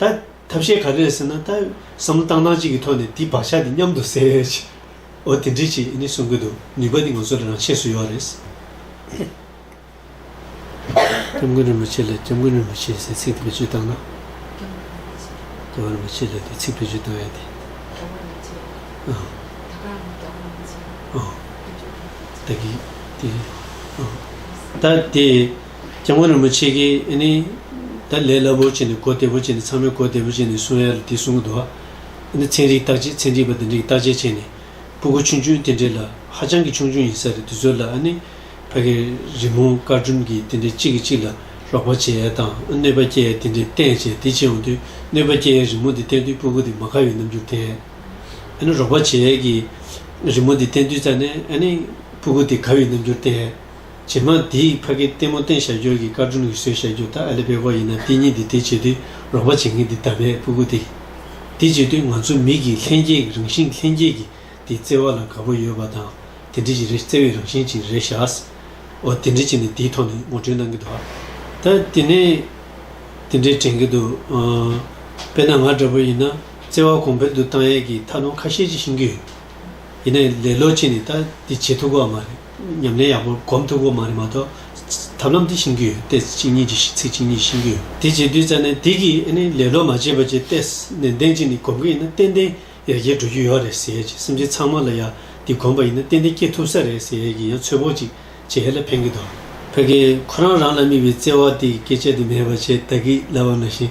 ད་ཐབས་ཤེས་ག་རེད་ཟེར་ན་ད་བསམ་བློ་བཏང་སྟངས་གཅིག་གི་ཐོག་ནས་དེའི་བག་ཆགས་དེ་མཉམ་དུ་སེལ་ཨོ་དེ་འདྲའི་ཆེད་ནས་གསུང་གི་འདུག་ནུས་པ་དེ་ང་ཚོ་ལ་རང་ཆས་སུ་ཡོད་རེད། སྐྱབས་མགོན་རིན་པོ་ཆེ་ལ་སྐྱབས་མགོན་རིན་པོ་ཆེ་ཟེར་ཚིག་བེད་སྤྱོད་བཏང་ན། སྐྱབས་མགོན་རིན་པོ་ཆེ་ལ་དེ་ཚིག་བེད་སྤྱོད་བཏང་ཡ་དེ། ད་དེ། སྐྱབས་མགོན་རིན་པོ་ཆེ་ཀྱིས་ནི། ད་ལས་སླ་པོར་བྱས་ནས་གོ་བདེ་པོ་བྱས་ནས་ཚང་མས་གོ་བདེ་པོ་བྱས་ནས་གསུང་ཡ་ལ་དེ་གསུང་གི་འདུག་ཨ། ཚན་རིག་བརྟག་དཔྱད་ཚན་རིག་པ་དེ་འདྲས་ཀྱིས་བརྟག་དཔྱད་བྱས་ནས། སྤུ་གུ་ཆུང་ཆུང་དེ་འདྲས་ལ་ཧ་ཅང་གི་ཆུང་ཆུང་ཡིན་ས་རེད་དེ་ཚོ་ལ་ཨ་ནི། ཕ་གི་རི་མོ་དཀར་སྦྲུམ་གྱི་དེ་འདྲས་གཅིག་གིས་གཅིག་ལ་ལོག་པ་བྱས་ཡ་དང་ཨ་གནོད་པ་སྐྱེལ་ཡ་དེ་འདྲས་བསྟན་བྱས་དེ་བྱས་འོང་དུས་གནོད་པ་སྐྱེལ་ཡའི་རི་མོ་དེ་བསྟན་དུས་སྤུ་གུ་དེ་མ་ཁ་བའི་རྣམ་འགྱུར་དེ། ཨ་ནི་རོགས་པ་བྱས་ཡས་ཀྱི་རི་མོ་དེ་བསྟན་དུས་ཙར་ནས་ཨ་ནི། སྤུ་གུ་དེ་ཁ་བའི་རྣམ་འགྱུར་དེ། རྗེས་མ་དེས་ཕ་གི་ལྟད་མོ་བསྟན་བཞག་རྒྱུར་གྱི་དཀར་སྒྲོམ་གྱི་སྲོལ་བཞག་རྒྱུ་ད་ཨ་ལེ་བས་ཁོ་ཡིན་ན་དེ་གཉིས་འདི་དེ་བྱེད་དུས་རོགས་པ་བྱེད་མཁན་དེ་ད་པའི་སྤུ་གུ་སྟེ། དེ་བྱེད་དུས་ང་ཚོ་མི་གིས་ལྷན་སྐྱེས་ཀྱི་རང་བཞིན་ལྷན་སྐྱེས་ཀྱི་དེ་བརྩེ་བ་ལ་དགའ་པོ་ཡོད་པ་དང་དེ་འདྲི་གཅིག་རེ་བརྩེ་བའི་རང་བཞིན་གཅིག་རེ་བཞག་ཨོ་དེ་འདྲི་གཅིག་ནི་དེའི་ཐོག་ནས་ངོ་སྤྲོད་གནང་གི་འདུག་ད་དེ་ནས་དེ་འདྲའི་དྲན་གི་འདུག་དཔེར་ན་ང་འདྲ་པོ་ཡིན་ན་བརྩེ་བ་གོང་འཕེལ་དུ་བཏང་ཡས་ཀྱི་ཐབས་ལམ་ཁ་ཤས་ཅིག་ཤེས་ཀྱི་ཡོད། ཡིན་ན་ལས་ལོ་ཕྱེད་ནས་ད་འདི་བྱེད་ཐུབ་གོ་བ་མ་རེད། ཉམས་ལེན་ཡག་པོ་སྒོམ་ཐུབ་དགོས་མ་རེད་མ་གཏོགས། ཐབས་ལམ་འདི་ཤེས་ཀྱི་ཡོད་ཏེ་ཚིག་གཉིས་ཀྱི་ཚིག་གཅིག་གཉིས་ཤེས་ཀྱི་ཡོད། དེ་བྱེད་དུས་རྩ་ནན་ཏིག་གིས་ཨེ་ནི་ལེ་ལོ་མ་བྱེད་པ་བྱས་ཏེ་ནན་ཏན་གྱིས་ནི་སྒོམ་གྱི་ཡིན་ན་ཏན་ཏན་ཡར་རྒྱས་འགྲོ་རྒྱུ་ཡོད་རེད་ཟེར་གྱི་སེམས་ཅན་ཚང་མ་ལ་ཡང་འདི་སྒོམ་པ་ཡིན་ན་ཏན་ཏན་སྐྱེ་ཐུབ་ས་རེད་ཟེར་གྱི་ཡང་ཚོད་དཔོག་ཅིག་བྱེད་ཧ་ལས་ཕན་གྱི་འདུག། ཕ་གིས་ཁོ་རང་རང་ལ་དམིགས་པའི་བརྩེ་བ་དེ་སྐད་ཆ་དེ་མེད་པར་བྱས་ད་གིས་ལབ་བ་ན་བཞིན་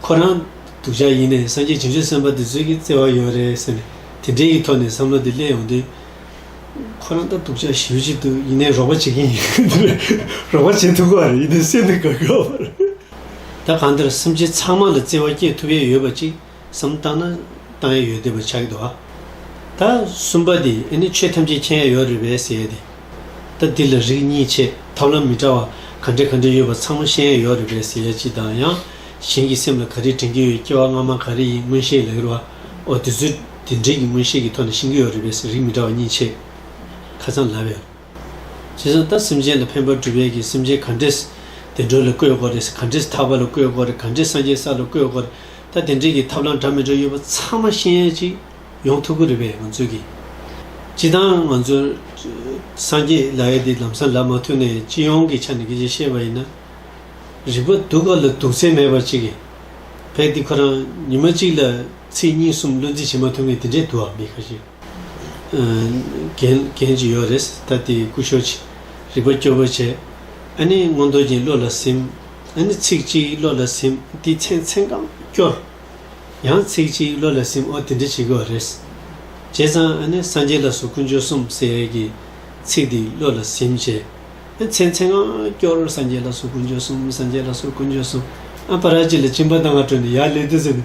ཁོ་རང་སྡུག་ཅག་ཡིན་ནས་སངས་རྒྱས་བྱང་ཆུབ་སེམས་དཔའ་དེ་ཚོས་ཀྱི་བརྩེ་བ་ཡོད་རེད་ཟེར་ནས་དེ་འདྲའི་གི་ཐོག་ནས་བསམ་བློ་དེ་སླེབས་ཡོང་དུས། ཁོ་རང་ལྟ་སྡུག་ཅག་ཞིབ་ཅིག་འདུག་ཡིན་ནའི་རོགས་པ་བྱེད་མཁན་ཡིན་ཁུལ་དེ་རེད། རོགས་པ་བྱེད་ཐུབ་ཁོ་རེད་ཡིན་ནའི་སེམས་ནི་དགའ་དགའ་བོ་རེད། ད་གང་འདིར་སེམས་ཅན་ཚང་མ་ལ་བརྩེ་བ་སྐྱེ་ཐུབ་ཡས་ཡོད་པ་ཅིག་བསམ་བཏང་ན་བཏང་ཡས་ཡོད་དེ་བ་ཆགས་ཀྱི་འདུག་ཨ། ད་གསུམ་པ་དེ་ཨེ་ནི་ཆོས་ཐམས་ཅད་མཁྱེན་ཡས་ཡོད་རེད་བས་ཟེར་ཡས་དེ། ད་འདི་ལ་རིགས་གཉིས་ཆེ་ཐབས་ལམ་མི་འདྲ་བ་ག་འདྲེ་ག་འདྲེ་ཡོད་པ་ཚང་མ་ཤེས་ཡས་ཡོད་རེད་བས་ཟེར་ཡས་ཅི་དང་ཡང་གཞན་གྱི་སེམས་ལ་ག་རེ་དྲན་གྱི་ཡོད་སྐྱེ་བ་སྔ་མ་ག་རེ་ཡིན་མངོན་ཤེས་ལ་ཡོད་རེད་བ་འོ་དེ་ཚོའི་དེ་འབྲེལ་གྱི་མངོན་ཤེས་ཀྱི་ཐོག་ནས་ཤིང་གི་ཡོ་རི་བས་ཟས་རིགས་མི་འདྲ་བ་གཉིས་ཆེས་ཁ་ཚ་ལ་བའི། བྱས་ཙང་ད་སེམས་ཅན་ལ་ཕན་པར་འགྲུབ་བས་ཀྱི་སེམས་ཅན་ག་འདྲེས་བདེ་འགྲོ་ལ་བཀོད་དགོ་རེས་ག་འདྲེས་ཐར་པ་ལ་བཀོད་དགོ་རེས་ག་འདྲེས་སངས་རྒྱས་ས་ལ་བཀོད་དགོ་རེས་ད་དེ་འདྲེས་ཀྱི་ཐབས་ལམ་འདྲ་མི་འདྲ་ཡོད་པ་ཚང་མ་ཤེས་ཡན་ཅིག་ཡོང་ཐུབ་ཀྱི་རེད་བས་ང་ཚོས་ཀྱི་ཅི་དང་ང་ཚོ་སངས་རྒྱས་ལ་ཡ་དེ་ལམ་སང་ལ་མ་ཐུག་ནས་སྤྱི་ཡོངས་ཀྱི་ཆ་ནས་ཀྱི་ཅི་ཤེས་པ་ཡིན་ན་རིག་པ་སྡུག་ག་ལ་སྡུག་ཚད་མེད་པ་ཅིག་གི་བས་འདི་ཁོ་རང་ཉི་མ་གཅིག་ལ། ཚེས་གཉིས་གསུམ་བློ་འཛིན་བྱེད་མ་ཐུབ་ངེས་དེ་འདྲའི་དུའང་མེད་ཁ་ཤས་གན་གཅིག་ཡོད་རེད་ད་དེ་སྐུ་ཤོར་ཅིག་རིག་པ་སྐྱོ་བོས་བྱས། ཨ་ནི་སྔོན་འདོར་གྱིན་བློ་ལ་སིམ། ཨ་ནི་ཚིག་གཅིག་བློ་ལ་སིམ་དེའི་མཚན་མཚན་གང་སྐྱོར། ཡང་ཚིག་གཅིག་བློ་ལ་སིམ་ཨོ་དེ་འདྲ་བྱེད་དགོས་བ་རེད། བྱས་ཙང་ཨ་ནི་སངས་རྒྱས་ལ་སོགས་ཀུན་སྤྱོད་གསུམ་ཟེར་ཡས་ཀྱི་ཚིག་འདི་བློ་ལ་སིམ་བྱས། ཨ་མཚན་མཚན་གང་སྐྱོར་སངས་རྒྱས་ལ་སོགས་ཀུན་སྤྱོད་གསུམ་སངས་རྒྱས་ལ་སོགས་ཀུན་སྤྱོད་གསུམ་ཨ་པ་ར་ཅི་ལ་སྤྱིན་པ་ལྟ་ང་སྤྲོ་ནས་ཡར་ལེ་དེ་ཟེར་ནས་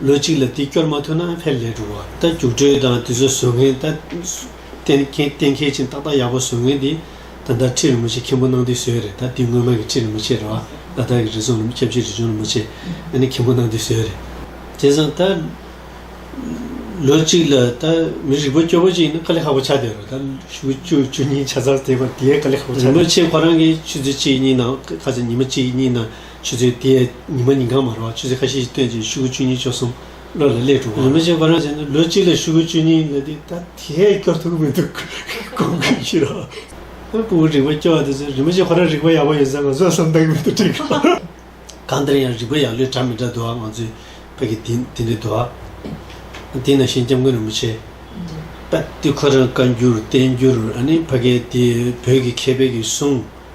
ལོ་གཅིག་ལ་དེ་སྐྱོར་མ་ཐུབ་ན་ཕེབས་ལས་འགྲོ་བ་ལྟ་རྒྱུགས་སྤྲོད་དང་དེ་ཚོ་བཟོ་མཁན་ལྟ། གཏན་འཁེལ་ཅིང་ཏག་ཏག་ཡག་པོ་བཟོ་མཁན་དེ་ད་ལྟ་ཁྲི་རིན་པོ་ཆེ་མཁན་པོ་གནང་དུས་བཟོས་རེད་ད་དེ་སྔོན་མ་གི་ཁྲི་རིན་པོ་ཆེ་རེད་བ་ད་ལྟ་གི་རི་ཟུང་ཁྱབ་བྱེད་རི་ཆུང་རིན་པོ་ཆེ་ཨ་ནི་མཁན་པོ་གནང་དུས་བཟོས་རེད། དེང་སང་ད། ལོ་གཅིག་ལ་ད་མི་རིག་པ་སྐྱོ་པོ་ཅིག་ཡིན་ན་དཀའ་ལས་ཧ་པོ་ཆགས་བསྡད་རོགས་ད་ཕྱུགས་བཅུ་བཅུ་གཉིས་ཆ་ཚང་བསྡད་པ་དེའི་དཀའ་ལས་ཧ་པོ་ཆགས། རིན་པོ་ཆེ་ཁོ་རང་གི་ཆུ་ཚོད་གཅིག་གཉིས་ནང་ཁ་ཚ་ཉི་མ་གཅིག་གཉིས་ནང། ཆུ་ཚོད་དེ་ཡས་ཉི་མ་ཉིན་གང་མ་རོ་བར་ཆུ་ཚོད་ཁ་ཤས་ཤིག་བཏོན་རྗེས་ཤུག་གུ་བཅུ་གཉིས་བཅུ་གསུམ་ལོར་ལ་ལས་གྲུབ་བོ། རིན་པོ་ཆེ་འཁོར་རང་བྱས་ན་ལོ་གཅིག་ལ་ཤུག་གུ་བཅུ་གཉིས་ལོན་ཏེ་ད་དེ་ཡས་སྐྱོར་ཐུབ་ཀྱི་མི་འདུག་གོང་གི་ཕྱིར་རོ། ཁོའི་སྤུ་བོ་རིག་པ་སྐྱོ་བ་དེ་ཚོས་རིན་པོ་ཆེ་ཁོ་རང་རིག་པ་ཡག་པོ་ཡོད་ས་ང་ཚོ་བསམ་གཏན་གྱི་མི་དང་འདྲ་གི་རེད། གང་ལྟར་ཡང་རིག་པ་ཡག་ལོས་གྲ་མི་འདྲ་འདུག་ཨ་ང་ཚོའི་བོད་ཀྱི་དེ་འདི་འདྲའི་འདུག་ཨ། དེས་ན་ཤིང་སྐྱ་མགོན་རིན་པོ་ཆེ། པད་ཏི་ཁོ་རང་བཀའ་འགྱུར་བསྟན་འགྱུར་ཨ་ནི་ཕ་སྐད་དེ་བོད་ཀྱི་མཁས་པའི་གིས་གསུངས།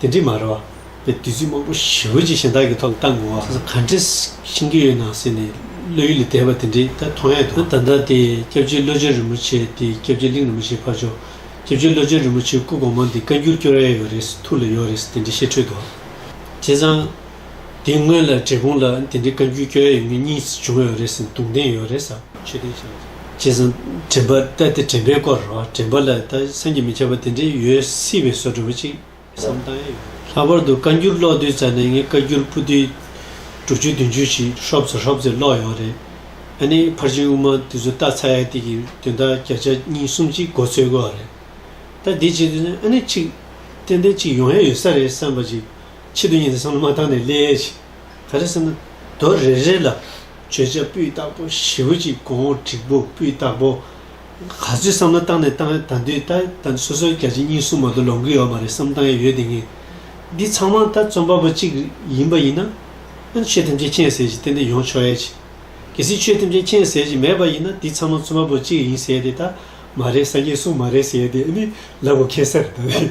དེ་འདྲི་མ་རེད་བ། དེ་དུས་ཚོད་མང་པོ་ཞིག་བོད་ཀྱི་གཞན་དག་གི་ཐོག་ལ་བཏང་དགོས་བ། ག་འདྲི་ཤིང་གི་ཡོད་ན་ཟེར་ནས་བློ་ཡུལ་ལས་འདས་པ་དེ་འདྲི་ད་མཐོང་ཡ་འདུག་ད་ལྟ་དེ་སྐྱབས་རྗེ་བློ་ཆེན་རིན་པོ་ཆེ་དེ་སྐྱབས་རྗེ་གླིང་རིན་པོ་ཆེ་ཕར་ཕྱོགས་སྐྱབས་རྗེ་བློ་ཆེན་རིན་པོ་ཆེ་སྐུ་གོང་མ་འདི་བཀའ་འགྱུར་སྐྱོར་ཡ་ཡོད་རེད་ཐུགས་ལ་ཡོད་རེད་དེ་འདྲི་ཤེས་འཕྲོད་དོ། དེ་བཟང། དེ་སྔོན་ལ་བྲེལ་ཕུང་ལ་དེ་འདྲའི་བཀའ་འགྱུར་བསྐྱོན་ཡོད་ངེས་གཉིས་སུ་བྱུང་ཡོད་རེད་ཟེར་འདུག་འདེང་ཡོད་རེད་ཟ། ཆོས་ལྡན་བྱས་ཡོད། བྱས་ཙང་དྲན་པ་ལྟ་སྟེ་དྲན་པའི་སྐོར་རོ། དྲན་པ་ལ་ད་སེམས་ཀྱིས་མི་ཁྱབ་པ་དེ་འདྲའི་ཡོད་སྲིད་པའི་བཟོ་འདྲ་བོ་ཅིག་བསམ་བཏང་ཡས་ཡོད། ལྷག་པར་དུ་བཀའ་འགྱུར་ཀློག་དུས་རྩ་ནས་ངས་བཀའ་འགྱུར་སྤུ་ལྡེ་དྲུག་ཅུ་བདུན་ཅུ་ཞིག་ཧྲོབ་ཙེ་ཧྲོབ་ཙེ་ཀློག་ཡོད་རེད། ཨ་ནི་ཕར་ཕྱིན་དབུ་མ་དེ་ཚོ་ལྟ་ཚར་ཡས་དེ་གི་དོན་དག་བརྒྱ་ཆ་གཉིས་གསུམ་གཅིག་མགོ་ཚོས་དགོས་རེད། ད་དེ་བྱས་དུས་ཨ་ནི་ཅིག་ཏན་ཏན་ཅིག་ཡོང་ཡས་ཡོད་ས་རེད་བསམ་པ་ཅིག་ཕྱི་དུ་ཉིད་དུ་སངས་ལ་མ་བཏང་ནས་སླེ་ཡས་ཤིག། ག་རེ་ཟེར་ན། དོར་རེ་རེ་ལ། བརྗོད་བྱ་སྤུས་དག་པོ་བཞི་བོ་གཅིག་གོང་འོག་དྲིག་པོ་སྤུས་དག་པོ། ག་ཚོད་བསམ་ལ་བཏང་ནས་བཏང་ཡས་ད་འདུས་ད་ད་སོ་སོའི་བརྒྱ་བྱིན་གཉིས་གསུམ་མ་གཏོགས་ལོངས་སྐུ་ཡོད་མ་རེད་བསམ་བཏང་ཡས་ཡོད་དེ་ངེས། འདི་ཚང་མ་ད་རྩོམ་པ་པོ་གཅིག་ཡིན་པ་ཡིན་ན། ཨ་ཆོས་ཐམས་ཅད་མཁྱེན་ཟེར་གྱི་ཏན་ཏན་ཡོང་ཆོག་ཡས་ཅིག། གལ་སྲིད་ཆོས་ཐམས་ཅད་མཁྱེན་ཟེར་གྱི་མེད་པ་ཡིན་ན་འདི་ཚང་མ་རྩོམ་པ་པོ་གཅིག་ཡིན་ཟེར་ཏེ་ད་མ་རེད་སངས་རྒྱས་གསུང་མ་རེད་ཟེར་ཏེ་ཨ་ནི་ལབ་དགོས་ཁེལ་སར་ད་རེད།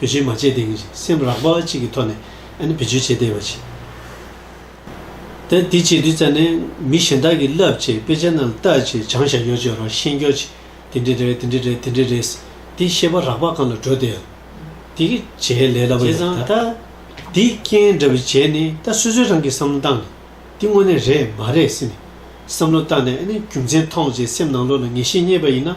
བེད་སྤྱོད་མ་བྱས་དེང་སེམས་རགས་པ་གཅིག་གི་ཐོག་ནས་ཨ་ནི་བེད་སྤྱོད་བྱེད་བསྡད་པ་བྱས། ད་དེ་བྱས་དུས་ཙམ་ནས་མི་གཞན་དག་གིས་བསླབ་བྱའི་དཔེ་ཆ་རྣམས་བལྟ་བྱས་སྦྱང་བྱ་ཡོ་བྱད་རོགས་ཤེས་འགྱོག་བྱས་དེ་འདྲས་རེད་དེ་འདྲས་རེད་དེ་འདྲས་རེད་དེ་ཤེས་པ་རགས་པ་གང་ལ་འགྲོ་བསྡད། དེ་གི་བྱས་ལས་སླ་པོ་ཡོད། བྱས་ཙང་ད་དེ་རྐྱེན་འདྲ་བུ་བྱས་ནས་ད་སོ་སོའི་རང་གི་བསམ་བློ་བཏང་ནས་དེ་དངོས་གནས་རེད་མ་རེད་ཟེར་ནས་བསམ་བློ་བཏང་ནས་ཨ་ནི་རྒྱུ་མཚན་ཐོངས་བྱས་སེམས་ནང་ལོགས་ལ་ངེས་ཤེས་རྙེད་པ་ཡིན་ན་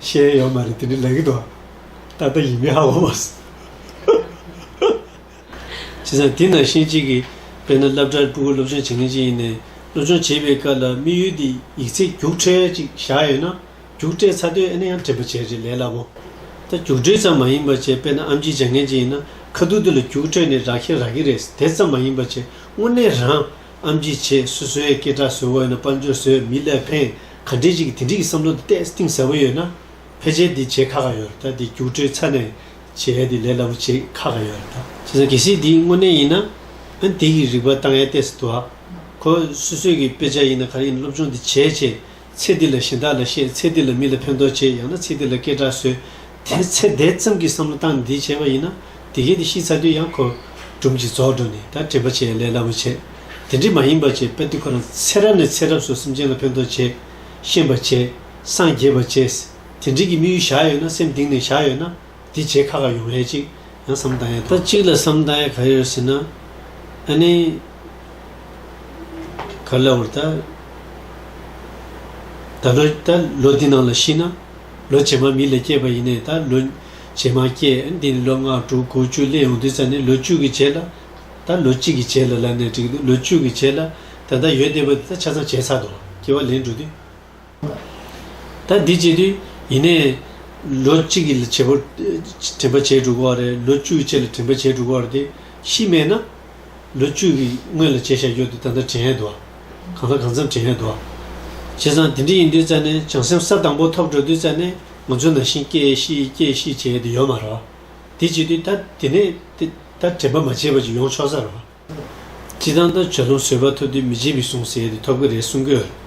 བཤད་ཡོད་མ་རེད་དེ་འདྲའི་ལས་ཀྱི་དོགས་ད་ལྟ་ཡིན་མིན་ཧ་གོ་མ་སོང། བྱས་ཙང་དེ་ནང་བཞིན་གཅིག་གིས་དཔེར་ན་སླབ་གྲྭར་སྤུ་གུ་སློབ་སྦྱོང་བྱེད་མཁན་ཅིག་ཡིན་ནས་སློབ་སྦྱོང་བྱེད་པའི་སྐབས་ལ་དམིགས་ཡུལ་དེ་ཡིག་ཚད་རྒྱུགས་ཁྲལ་ཅིག་བཞག་ཡོད་ན་རྒྱུགས་ཁྲལ་ཚ་དོད་ཨེ་ན་ཡང་དྲན་པ་བྱེད་རེད་ལས་སླ་པོ། ད་རྒྱུགས་ཁྲལ་ཙམ་མ་ཡིན་པ་ཆེ་དཔེར་ན་ཨམ་ཆིའི་སྦྱང་མཁན་ཅིག་ཡིན་ན་ཁ་སྡུག་དེ་ལ་རྒྱུགས་ཁྲལ་ནི་རག་ཤེས་རག་གི་རེད་དེ་ཙམ་མ་ཡིན་པ་ཆེ་དངོས་གནས་རང་ཨམ་ཆི་བྱེད་སུས་སོའི་སྐད་གྲགས་བཟོས་དགོས་ཡོད་ན་དཔལ་འབྱོར་བཟོས་མི་ལ་ཕན་ག་འདྲས་ཅིག་གིས་དེ་འདྲིས་ཀྱི་བསམ་བློ་འདི་བལྟས་གཏིང་ཟབ་མོ་ཡོད་ན། ཕལ་ཆེར་འདི་བྱེད་ཁག་ག་ཡོད་རེད་ད་འདི་རྒྱུགས་སྤྲོད་ཚར་ནས་བྱས་འདི་ལས་སླ་པོ་བྱེད་ཁག་ག་ཡོད་རེད་ད། བྱས་ཙང་གལ་སྲིད་འདི་དངོས་གནས་ཡིན་ན། ཨན་དེ་གི་རིག་པ་བཏང་ཡ་བལྟས་སུ་འདུག་ཨ། ཁོ་སོ་སོས་ཀྱི་དཔེ་ཆ་ཡིན་ན་ག་རེ་ཡིན་སློབ་སྦྱོང་འདི་བྱས་བྱས། ཚེ་འདི་ལ་གཞན་དག་ལ་བཤད་ཚེ་འདི་ལ་མི་ལ་ཕན་ཐོག་བྱེད་ཡང་ན་ཚེ་འདི་ལ་སྐད་གྲགས་བཟོས། དེའི་ཚེ་དེ་ཙམ་གྱི་བསམ་བློ་བཏང་ནས་འདི་བྱས་པ་ཡིན་ན། དེ་གས་དེ་ཤི་ཚར་དུས་ཡང་ཁོ། སྦྲུམ་གྱིས་རྫོགས་འགྲོ་ནས་ད་དྲེད་པ་བྱེད་ལས་སླ་པོ་བྱེད། དེ་འདྲས་མ་ཡིན་པར་བྱེད་དཔེར་དུ་ཁོ་རང་ཚེ་རབས་ནས་ཚེ་རབས་སུ་སེམས་ཅན་ལ་ཕན་ཐོགས་བྱེད། ཤེས་པར་བྱེད། སངས་རྒྱས་པར་བྱེད། དེ་འདྲས་ཀྱི་དམིགས་ཡུལ་བཞག་ཡོད་ན་སེམས་གཏིང་ནས་བཞག་ཡོད་ན། འདི་བྱེད་ཁག་ཁག་ཡོང་ཡ་གཅིག་ཡང་བསམ་བཏང་ཡ་ད། གཅིག་ལ་བསམ་བཏང་ཡ་ག་ཡོད་ཟེར་ན། ཨ་ནི། ག་ལ་བུར་ད། ད་ལོ་ལོ་འདི་ནང་ལ་ཤི་ན། ལོ་བྱེ་མ་མི་ལས་སྐྱེས་པ་ཡིན་ནས་ད་ལོ་བྱེ་མ་སྐྱེས་འདི་ནི་ལོ་ལྔ་དྲུག་དགུ་བཅུ་སླེབས་ཡོང་དུས་ཚར་ནས་ལོ་བཅུ་གི་བྱེ་ལ་ད་ལོ་གཅིག་གི་བྱེ་ལ་ལབ་ནས་འགྲིག་འདུག་ལོ་བཅུ་གི་བྱེ་ལ་ད་ལྟ་ཡོད་བསྡད་པ་འདི་ད་ཆ་ཚང་བྱས་ཚར་འདུག་སྐྱེ་བ་ལེན་འགྲོ་དུས་ད་འདི་སྐྱེས་དུས་ཡིན་ནས་ལོ་གཅིག་གི་བྱེ་བོར་དྲན་པ་བྱས་འགྲོ་དགོས་བ་རེད་ལོ་བཅུ་གི་བྱེ་ལ་དྲན་པ་བྱས་འགྲོ་དགོས་བ་རེད་དེ་ཤི་རྨས་ན། ལོ་བཅུ་གི་སྔོན་ལ་བྱས་བཞག་རྒྱུ་དེ་ད་ལྟ་དྲན་ཡས་འདུག་གང་ལྟར་གང་འཚམས་དྲན་ཡས་འདུག་བྱས་ཙང་དེ་འདྲ་ཡིན་དུས་རྩ་ནས་བྱང་སེམས་ས་དང་པོ་ཐོབ་འགྲོ་དུས་རྩ་ནས་ང་ཚོ་ནང་བཞིན་སྐྱེ་ཤི་སྐྱེ་ཤི་བྱས་ཡས་དུ་ཡོད་མ་རོག་དེ་བྱས་དུས་ད་དེ་ནས་དེ་ད་དྲན་པ་མ་བྱས་པ་ཅིག་ཡོང་ཆོག་ས་རོག་སྤྱི་བཏང་ལྟར་བྱོས་ལོམ་བཟོས་པ་ཐོབ་དུས་མི་བྱེད་མི་གསུང་ཟེར་ཡས་དུ་ཐོབ་ཀྱི་རེད་གསུང་གྱི་ཡོད་རེད།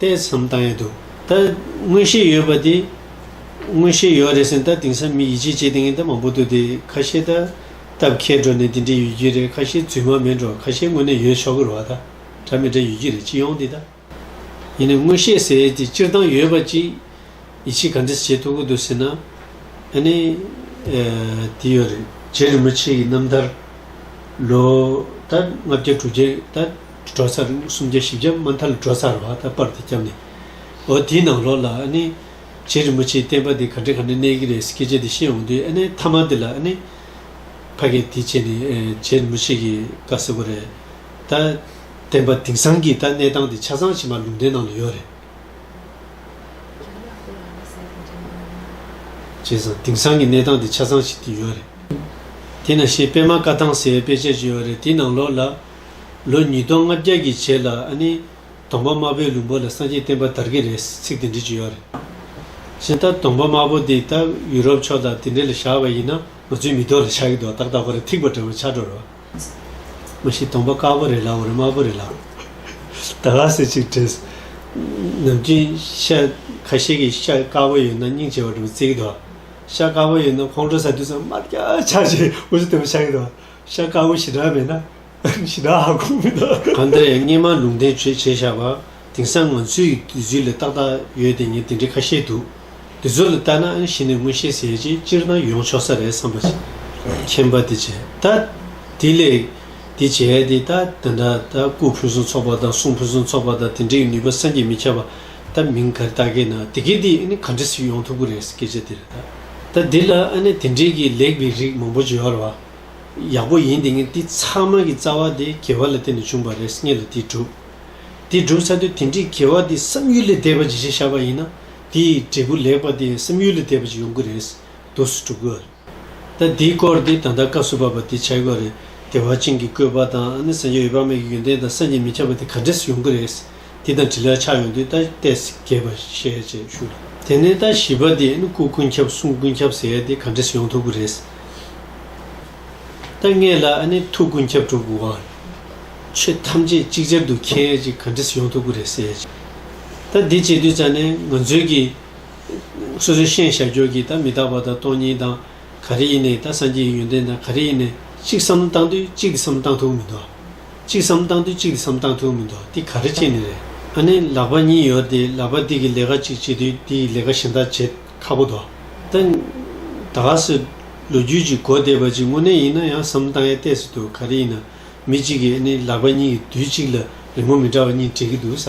ལྟས་ཙམ་བཏང་ཡོད་འདུག་ད། མངོན་ཤེས་ཡོད་པ་དེ། མངོན་ཤེས་ཡོད་རེད་ཟེར་ན་ད་དེང་སང་མི་ཡིད་ཆེས་བྱེད་ལྟེ་ངན་ད་མང་པོ་འདུག་དེ་ཁ་ཤས་ད། སྟབས་ཁེལ་འགྲོ་ནས་དེ་འདྲས་ཡོད་རྒྱུ་རེད་ཁ་ཤས་རྫུན་མ་མིན་འགྲོ་ཁ་ཤས་དངོས་གནས་ཡོད་ཆོག་གི་རུ་བ་ད། དྲ་མི་དྲ་ཡོད་རྒྱུ་རེད་སྤྱི་ཡོངས་དེ་ད། ཡིན་ནའི་མངོན་ཤེས་ཟེར་ཡས་དེ་སྤྱིར་བཏང་ཡོད་པ་ཅིག། ཡིད་ཆེས་ག་འདྲས་བྱེད་ཐུབ་གི་འདུག་ཟེར་ན། ཨ་ནི། དེ་ཡོད་རེད། རྗེ་རིན་པོ་ཆེ་ཡི་རྣམ་ཐར། ལོ། ད་ལྔ་བརྒྱ་དྲུག་བརྒྱ་ད། གྲོ་སར་སུམ་བརྒྱ་བཞི་བརྒྱ་མ་མཐར་ལ་གྲོ་སར་བ་ད་པར་དུ་བསྐྱབས་ནས། འོ་དེའི་ནང་ལོགས་ལ་ཨ་ནི། རྗེ་རིན་པོ་ཆེའི་བསྟན་པ་འདི་ག་འདྲའི་ག་འདྲའི་གནས་ཀྱི་རེད་ཟེར་སྐད་ཆ་འདི་བཤད་འོང་དུས་ཨ་ནི་མཐའ་མ་འདི་ལ་ཨ་ནི། ཕ་སྐད་འདི་བྱས་ནས་རྗེ་རིན་པོ་ཆེ་གི་བཀའ་ཟེར་བ་རེད། ད། བསྟན་པ་དེང་སང་གི་ད་གནས་སྟངས་འདི་ཆ་ཚང་ཕྱི་མ་ལུང་བསྟན་ནང་ལ་ཡོད་རེད། བྱས་ཙང་དེང་སང་གི་གནས་སྟངས་འདི་ཆ་ཚང་ཞིག་འདི་ཡོད་རེད། དེ་ན་ཤེས་དཔལ་མ་བཀའ་ཐང་ཟེར་བའི་དཔེ་ཆ་ཞིག་ཡོད་རེད་དེའི་ནང་ལོགས་ལ། ལོ་ཉིས་སྟོང་ལྔ་བརྒྱ་གྱི་རྗེས་ལ་ཨ་ནི་དོང་པ་དམར་པོའི་ལུང་པ་ལ་སངས་རྒྱས་བསྟན་པ་དར་གྱི་རེད་ཟེར་ཚིག་དེ་འབྲི་གི་ཡོད་རེད། གཞན་ད་དོང་པ་དམར་པོ་འདི་ད་ཡུ་རོབ་ཕྱོགས་དང་དེ་འདྲ་ལ་བཞག་པ་ཡིན་ན་ང་ཚོའི་མི་རྡོ་ལ་བཞག་གི་འདུག་ཏག་ཏག་ཁོ་ར་ཐིག་པ་འདྲ་བོ་ཆགས་འགྲོ་རོ། མ་གཞི་དོང་པ་དཀར་པོ་རེད་ལ་འོ་རེ་དམར་པོ་རེད་ལ། ད་ལ་ཟེར་ཅིག་དྲན། ནམ་རྒྱུན་ཤ་ཁ་ཤས་ཀྱི་ཤ་དཀར་པོ་ཡོད་ན་སྙིང་རྗེ་བ་འདྲ་བོ་བརྩེ་གི་འདུག་ཤ་དཀར་པོ་ཡོད་ན་ཁོང་ཁྲོ་ཟ་དུས་ཚང་མར་རྒྱ་ཆ་ཆེ་བོ་ཞིག་བསྟན་པ་ཆགས་ཀྱི་འདུག་ཤ་དཀར་བོ་ཞི་དྲག་མེད་ན་ཞི་དྲག་ཧ་གོ་མི་ཐུབ། གང་ལྟར་ཡང་སྙན་མང་ལུང་བསྟན་བྱོས་བྱས་བཞག་པ་དེང་སང་ང་ཚོའི་དུས་ཚོད་ལས་ཏག་ཏག་ཡོད་དེ་ངས་དེ་འདྲའི་ཁ་ཤས་འདུག་དེ་ཚོ་ལ་བལྟ་ན་གཞི་ནས་མངོན་ཤེས་ཟེར་ཅིག་སྤྱིར་བཏང་ཡོང་ཆོག་ས་རེད་བསམ་པ། མཁྱེན་པ་དེ་བྱས་ད་དེ་ལས་དེ་བྱས་དེ་ད་དེ་འདྲ་ད་སྐུ་ཕུན་སུམ་ཚོགས་པ་དང་གསུང་ཕུན་སུམ་ཚོགས་པ་དང་དེ་འདྲའི་ནུས་པ་སངས་རྒྱས་མི་ཁྱབ་པ་ད་མིང་ག་རེ་བཏགས་ཀྱི་ན་དེ་གས་དེ་ག་འདྲ་ཞིག་ཡོང་ཐུབ་ཀྱི་རེད་སྐད་ཆ་དེ་རེད་ད། ད་དེ་ལ་ཨ་ནེ་དེ་འདྲས་ཀྱི་ལེགས་པའི་རིགས་མང་པོ་བརྗོད་ཨར་བ། ཡག་པོ་ཡིན་འདི་ངས་འདི་ཚང་མ་གི་རྩ་བ་དེ་གེ་བ་ལ་བརྟེན་ནས་བྱུང་བ་རེད་ངས་ལ་དེ་འགྲུབ་དེ་འགྲུབ་ས་དུས་དེ་འདྲའི་གེ་བ་དེ་བསམ་ཡུལ་ལས་འདས་པ་ཇི་བྱེད་ཤར་བ་ཡིན་ན་དེ་འབྲས་བུ་ལེགས་པ་དེ་བསམ་ཡུལ་ལས་འདས་པ་ཅིག་ཡོང་གི་རེད་འདུག་སུ་འགྲུབ་གི་རེད་ད་དེའི་སྐོར་དེ་ད་ལྟ་སྐབས་བསུ་བ་པ་དེ་བྱ་དགོས་རེད་དེ་བ་ཅིང་གི་བཀོད་པ་དང་ཨ་ནི་བཟང་ཆ་ཡོད་པ་མེད་ཀྱི་ཡོན་ཏན་དང་སངས་རྒྱས་མི་ཁྱབ་པ་དེ་ག་འདྲས་སུ་ཡོང་གི་རེད། དེ་དང་དྲིལ་ལ་ཆགས་ཡོང་དུས་ལྟ་བལྟས་རྒྱས་པར་བཤད་ཅེས་ཞུ། དེ་ནས་ལྟ་བྱིས་པ་དེས་ནི་སྐུ་ཀུན་ཁྱབ་གསུང་ཀུན་ཁྱབ་ཟེར་ཏེ་ག་འདྲས་སུ་ཡོང་ཐུབ་ཀི་རེད། ལྟ་ངན་ལ་ཨ་ནི་ཐུགས་ཀུན་ཁྱབ་གྲུབ་དགོས་ཨང། ཆོས་ཐམས་ཅད་ཅིག་ཅར་དུ་མཁྱེན་ཅིག་ག་འདྲས་སུ་ཡོང་ཐུབ་ཀི་རེད་ཟེར། ལྟ་འདི་བྱེད་དུས་ཙཱ་ནས་ང་ཚོས་ཀྱི། སོ་སོའི་ཤེས་བྱ་ཁྱོད་ཀྱིས་ལྟ་མི་རྟག་པ་དང་སྟོང་ཉིད་དང། ག་རེ་ཡིན་ནས་ལྟ་སངས་རྒྱས་ཀྱི་ཡོན་ཏན་དང་ག་རེ་ཡིན་ནས་གཅིག་བསམ་བློ་བཏང་དུས་གཅིག་གི་བསམ་བློ་བཏང་ཐུབ་ཀི་མི་འདུག་ཨ། གཅིག་བསམ་སྟངས་དུ་གཅིག་གི་བསམ་སྟངས་ཐུག་མི་འདུག་འདི་ག་རེ་བྱེད་ནི་རེད། ཨ་ནེ་ལག་པ་གཉིས་ཡོད་དེ་ལག་པ་འདི་གི་ལས་ཀ་གཅིག་བྱེད་དུས་འདི་ཡི་ལས་ཀ་གཞན་དག་བྱེད་ཁག་པོ་འདུག་ད། ད་ག་ཟེ། ལོ་རྒྱུས་ཀྱི་གོ་བདེ་བ་གཅིག་དངོས་གནས་ཡིན་ན་ཡང་བསམ་སྟངས་ཡ་གཏད་སུ་འདུག་ག་རེ་ཡིན་ན་མི་གཅིག་གི་ཨ་ནེ་ལག་པ་གཉིས་ཀྱི་དུས་གཅིག་ལ་རི་མོ་མི་འདྲ་བ་གཉིས་འབྲི་གི་འདུག་ས།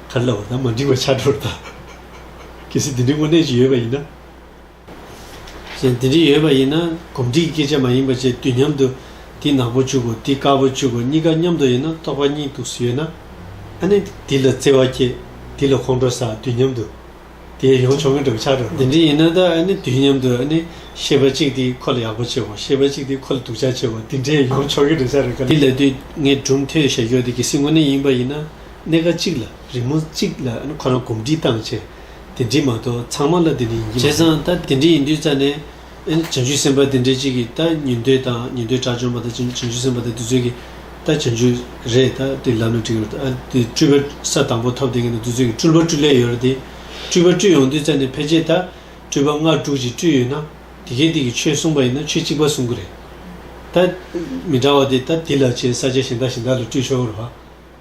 ཁ་བསླབ་པ་དང་མ་འགྲིག་པ་ཆགས་འགྲོ་རུ་བལྟ། གལ་སྲིད་དེ་འདྲའི་དངོས་གནས་ཀྱི་ཡོད་པ་ཡིན་ན། གཞན་དེ་འདྲའི་ཡོད་པ་ཡིན་ན་གོམས་འདྲིས་ཀྱི་སྐད་ཆ་མ་ཡིན་པ་བཅས་དུས་མཉམ་དུ་འདི་ནག་པོ་བཅུག་གོ་འདི་དཀར་པོ་བཅུག་གོ་གཉིས་ཀ་མཉམ་དུ་ཡིན་ན་རྟོག་པ་གཉིས་འདུག་སུ་ཡོད་ན། ཨ་ནི་འདི་ལ་བརྩེ་བ་སྐྱེས་འདི་ལ་ཁོང་ཁྲོ་ཟ་དུས་མཉམ་དུ་དེ་ཡོང་ཆོག་མཁན་འདྲ་བོ་ཆགས་འགྲོ་རུ། དེ་འདྲའི་ཡིན་ན་ད་ཨ་ནི་དུས་མཉམ་དུ་ཨ་ནི་ཤེས་པ་གཅིག་འདི་ཁོ་ལ་ཡག་པོ་བྱེད་གོ་ཤེས་པ་གཅིག་འདི་ཁོ་ལ་སྡུག་ཅག་བྱེད་གོ་འདི་འདྲས་ཡོང་ཆོག་མཁན་འདྲ་ཆགས་རུ་དཀའ། འདི་ལ་དུས་ངས་གྲུབ་མཐོའི་ཞལ་འཁྱོག་འདི་གལ་སྲིད་དངོས་གནས་ཡིན་པ་ཡིན་ན། གནད་འགག་གཅིག་ལ་རིང་མོ་གཅིག་ལ་ཁོ་རང་གོམས་འདྲིས་བཏང་བྱས། དེ་འདྲིས་མ་གཏོགས་ཚང་མ་ལ་དེ་འདྲིས་ཡིན་གྱི་མ་རེད། བྱས་ཙང་ད་དེ་འདྲིས་ཡིན་དུས་རྩ་ནས། བྱང་ཆུབ་སེམས་དཔའ་དེ་འདྲས་གཅིག་གིས་ད་ཉུང་འདོད་དང་ཉུང་འདོད་དྲག་བྱུང་བ་ད་བྱང་ཆུབ་སེམས་དཔའ་དེ་དུས་ཚོད་ཀྱི་ད་བྱང་ཆུབ་རེད་ད་དེ་ལམ་ནས་བྲིས་ཡོད་རེད་ད་དེ་སྤྲུལ་པ་ས་དང་པོ་ཐོབ་དེ་ངེས་ན་དུས་ཚོད་ཀྱི་སྤྲུལ་པ་སྤྲུལ་ལས་ཡོད་རེད་དེ། སྤྲུལ་པ་སྤྲུལ་ཡོང་དུས་རྩ་ནས་ཕལ་ཆེར་ད་སྤྲུལ་པ་ལྔ་དྲུག་ཅིག་སྤྲུལ་ཡོད་ན། དེ་གས་དེ་གིས་ཆོས་གསུངས་པ་ཡིན་ན་ཆོས་གཅིག་པ་གསུང་གི་རེད། ད། མི་འདྲ་བ་དེ་ད་དེ་ལ་བྱས་ས་ཆ་གཞན་དག་གཞན་དག་ལ་སྤྲུལ་ཆོག་གི་རེད།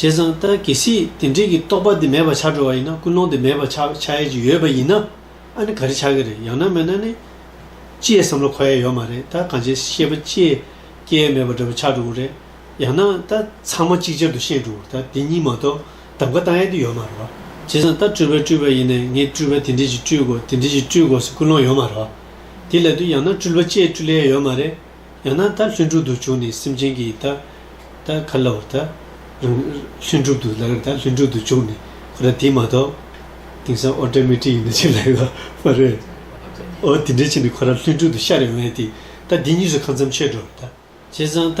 བྱས་ཙང་ལྟ་གལ་སྲིད་དེ་འབྲེལ་གྱི་རྟོག་པ་དེ་མེད་པར་བྱ་འགྲོ་བ་ཡིན་ན་ཀུན་སློང་དེ་མེད་པར་ཆགས་ཆགས་ཡས་ཀྱི་ཡོད་པ་ཡིན་ན་ཨ་ནི་ག་རེ་ཆགས་ཀྱི་རེད་ཡང་ན་མེད་ན་ནི། ཅི་ཡས་བསམ་བློ་འཁོར་ཡས་ཡོད་མ་རེད་ད་གང་བྱས་ཤེས་པ་ཅི་ཡས་སྐྱེ་ཡས་མེད་པ་འདྲ་པོ་ཆགས་འགྲོ་གི་རེད་ཡང་ན་ད་ཚང་མ་གཅིག་ཅར་དུ་ཤེས་འགྲོ་གི་རེད་ད་དེ་གཉིས་མ་གཏོགས་གདམ་ག་བཏང་ཡས་དེ་ཡོད་མ་རེད་བ། བྱས་ཙང་ལྟ་སྤྲུལ་པས་སྤྲུལ་པ་ཡིན་ནས་ངས་སྤྲུལ་པ་དེ་འདྲས་ཀྱིས་སྤྲུལ་དགོས་དེ་འདྲས་ཀྱིས་སྤྲུལ་དགོས་སའི་ཀུན་སློང་ཡོད་མ་རེད་བ། དེ་ལས་དུས་ཡང་ན་སྤྲུལ་པ་ཅི་ཡས་སྤྲུལ་ཡས་ཡོད་མ་རེད། ཡང་ན་ད་ལྷུན་གྲུབ་ཏུ་བྱུང་ནས་སེམས་ཅན་གྱི་ད་ད་ག་ལ་བར་ད་རང་ལྷུན་གྲུབ་ཏུ་ལགས་ད་ལྷུན་གྲུབ་ཏུ་བྱུང་ནས་ཁོ་ན་དེ་མ་གཏོགས། དེང་སང་ཨོ་ཏྲ་མེ་ཏྲིག་ཡིན་ན་ཅི་ལེགས་ལ་མ་རེད། ཨོ་དེ་འདྲའི་ཕྱིར་ནི་ཁོ་རང་ལྷུན་གྲུབ་ཏུ་ཤར་ཡོང་བས་ཏེ་ད་དེ་གཉིས་སུ་གང་འཚམས་ཆོད་འགྲོ་བར་ད། བྱས་ཙང་ད་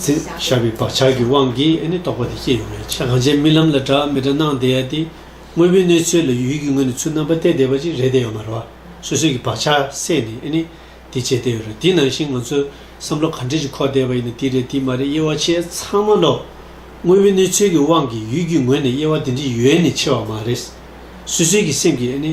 ཚེ་ཞབས་པའི་བག་ཆགས་ཀྱི་དབང་གིས་ཨེ་ནི་རྟོག་པ་དེ་སྐྱེས་ཡོང་བའི་ཕྱིར་གང་བྱས་རྨི་ལམ་ལ་གྲགས་མི་གྲགས་སྣང་བདེ་ཡ་དེ་དངོས་པོའི་གནས་ཚོད་ལ་ཡུལ་གྱི་ངོས་ནས་ཚུར་རྣམ་པ་གཏད་བསྡད་པ་ཅིག་རེད་བསྡད་ཡོང་མ་རུང་བ་སོ་སོའི་གི་བག་ཆགས་བསད་ནས་ཨེ་ནི་དེ་བྱས་བསྡད་ཡོད་རེད་དེ་ནང་བཞིན་ང་ཚོའི་བསམ་བློ་ག་འདྲས་ཅིག་འཁོར་བསྡད་པ་ཡིན་ན་དེ་རེད་དེ་མ་རེད་དབྱེ་བ་ཆེས་ཚང་མ་ལོ། དངོས་པོའི་གནས་ཚོད་ཀྱི་དབང་གིས་ཡུལ་གྱི་ངོས་ནས་དབྱེ་བ་དེ་འདྲའི་ཡོད་ནི་ཆེ་བ་མ་རེད། སོ་སོའི་གི་སེམས་ཀྱིས་ཨེ་ནི།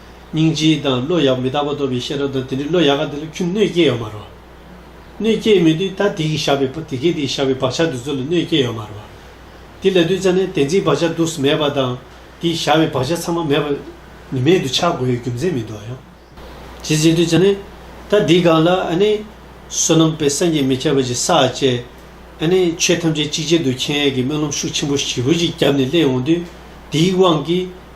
སྙིང་རྗེ་དང་བློ་ཡག་མི་རྟག་པ་སྟོབས་པའི་ཤེས་རབ་དང་དེ་འདྲའི་བློ་ཡག་ག་དེ་ལ་ཁྱོད་གནོད་སྐྱེལ་ཡོད་མ་རོ། གནོད་སྐྱེལ་མི་དུས་ད་དེ་གིས་བཞག་པའི་དེ་གས་དེ་བཞག་པའི་བག་ཆགས་འདི་ཚོ་ལ་གནོད་སྐྱེལ་ཡོད་མ་རོ། དེ་ལ་དུས་ཚ་ནས་དེ་འཛིན་བག་ཆགས་དུག་གསུམ་མེད་པ་དང་དེས་བཞག་པའི་བག་ཆགས་ཚང་མ་མེད་པ། ནི་མེད་དུ་ཆགས་དགོས་ཡོད་རྒྱུ་མཚན་མི་འདུག་ཡང། ཇི་སྲིད་དུས་ཚ་ནས་ད་དེ་ག་ལ་ཨ་ནི། བསོད་ནམས་དཔལ་སངས་རྒྱས་མི་ཁྱབ་པ་ཅིག་ས་བཅས། ཨ་ནི་ཆོས་ཐམས་ཅད་གཅིག་ཅན་དུ་མཁྱེན་ཡས་ཀྱི་སྨོན་ལམ་ཤུགས་ཆེན་པོ་བཞི་བོ་ཅིག་རྒྱབ་ནས་སླེབས་འོང་དུས་དེའི་དབང་གིས།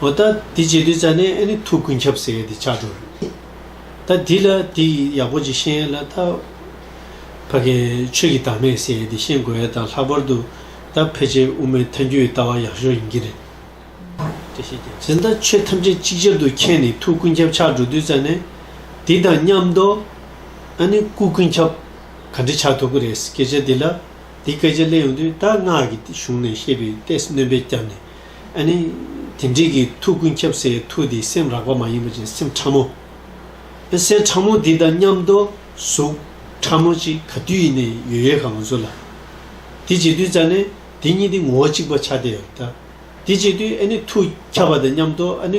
འོ་ད་འདི་བརྗེད་དུས་ཙཱ་ནས་ཨེ་ནི་ཐུགས་ཀུན་ཁྱབ་ཟེར་དེ་ཆགས་འགྲོ་རེད། ད་འདི་ལ་འདི་ཡི་ཡག་པོ་ཅིག་ཤེས་ལ་ད། ཕ་གི་ཆོས་ཀྱི་བདག་མེད་ཟེར་དེ་ཤེས་དགོས་ཡས་དང་ལྷག་པར་དུ་ད་ཕལ་ཆེར་དབུ་མའི་མཐའ་འགྱུར་ཡི་ལྟ་བ་ཡག་ཤོས་ཡིན་གྱི་རེད། ཟེར་ན་ད་ཆོས་ཐམས་ཅད་གཅིག་གྱུར་དུ་མཁྱེན་ནས་ཐུགས་ཀུན་ཁྱབ་ཆགས་འགྲོ་དུས་ཙཱ་ནས་འདི་དང་མཉམ་དུ་ཨ་ནི་སྐུ་ཀུན་ཁྱབ་ག་འདྲི་ཆགས་ཐུག་གི་རེད་སྐད་ཆ་འདི་ལ་འདི་སྐད་ཆ་གླེང་ཡོང་དུས་ད་སྔགས་ཀྱི་གཞུང་ནས་བཤད་པའི་ལྟས་སྣོན་པས་བསྐྱབས་ནས། ཨ་ནི། དེ་འདྲིས་ཀྱི་ཐུགས་ཀུན་ཁྱབ་སའི་ཐུགས་དེ་སེམས་རགས་པ་མ་ཡིན་པ་ཅན་སེམས་ཕྲ་མོ། ཨ་སེམས་ཕྲ་མོ་དེ་དང་མཉམ་དུ་གཟུགས་ཕྲ་མོ་གཅིག་ག་དུས་ཡིན་ནས་ཡོད་ཡོད་ག་ང་ཚོ་ལ། དེ་བྱེད་དུས་ཙཱ་ནི་དེ་གཉིས་དེ་ངོ་བོ་གཅིག་པ་ཆགས་བསྡད་ཡོད། དེ་བྱེད་དུས་ཨ་ནི་ཐུགས་ཁྱབ་པ་དང་མཉམ་དུ་ཨ་ནི་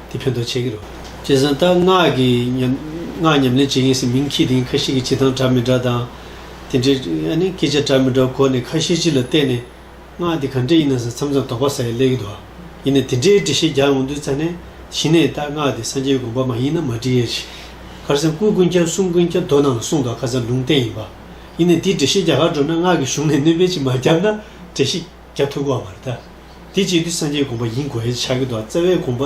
དེ་ཕན་ཐོགས་ཆེ་གི་རོ། སྤྱིར་གསང་བཏགས་སྔགས་ཀྱི་སྔགས་ཉམས་ལེན་བྱེད་མཁན་སྲིད་མིང་ཁྱི་དེང་ཁ་ཤས་ཀྱི་བྱེད་སྟངས་འདྲ་མི་འདྲ་དང། དེ་འདྲའི་སྐད་ཆ་འདྲ་མི་འདྲ་གོ་ནས་ཁ་ཤས་སྤྱི་ལ་བལྟས་ནས། སྔགས་དེ་ག་འདྲས་ཡིན་ནང་ས་མཚམས་ཙམ་དོགས་པ་ཟ་ཡི་ལས་ཀི་འདུག་ཨ། ཡིན་ནས་དེ་འདྲའི་འདྲི་བཤད་རྒྱག་འོང་དུས་རྩ་ནས་ཞི་གནས་བཏགས་སྔགས་དེ་སངས་རྒྱས་དགོངས་པ་མ་ཡིན་ན་མ་འདྲི་ཡས་ཤིག། ཁར་སེམས་སྐུ་ཀུན་ཁྱབ་གསུམ་ཀུན་ཁྱབ་མདོ་ནང་ལ་གསུངས་དོགས་ཁ་ཚར་ལུང་བསྟན་ཡིན་པ། ཡིན་ནས་དེའི་འདྲི་བཤད་རྒྱག་ཁར་འགྲོ་ན་སྔགས་ཀྱི་གཞུང་ནས་གནོད་པའི་ཆེད་མ་རྒྱབ་ན་བྲེལ་ཤིག། རྒྱ་ཐུག་གོ་བར་ཐལ། དེ་བྱེད་དེ་སངས་རྒྱས་དགོངས་པ་ཡིན་དགོས་ཡིན་ཆགས་ཀྱི་འདུག་བརྩེ་བའི་དགོངས་པ་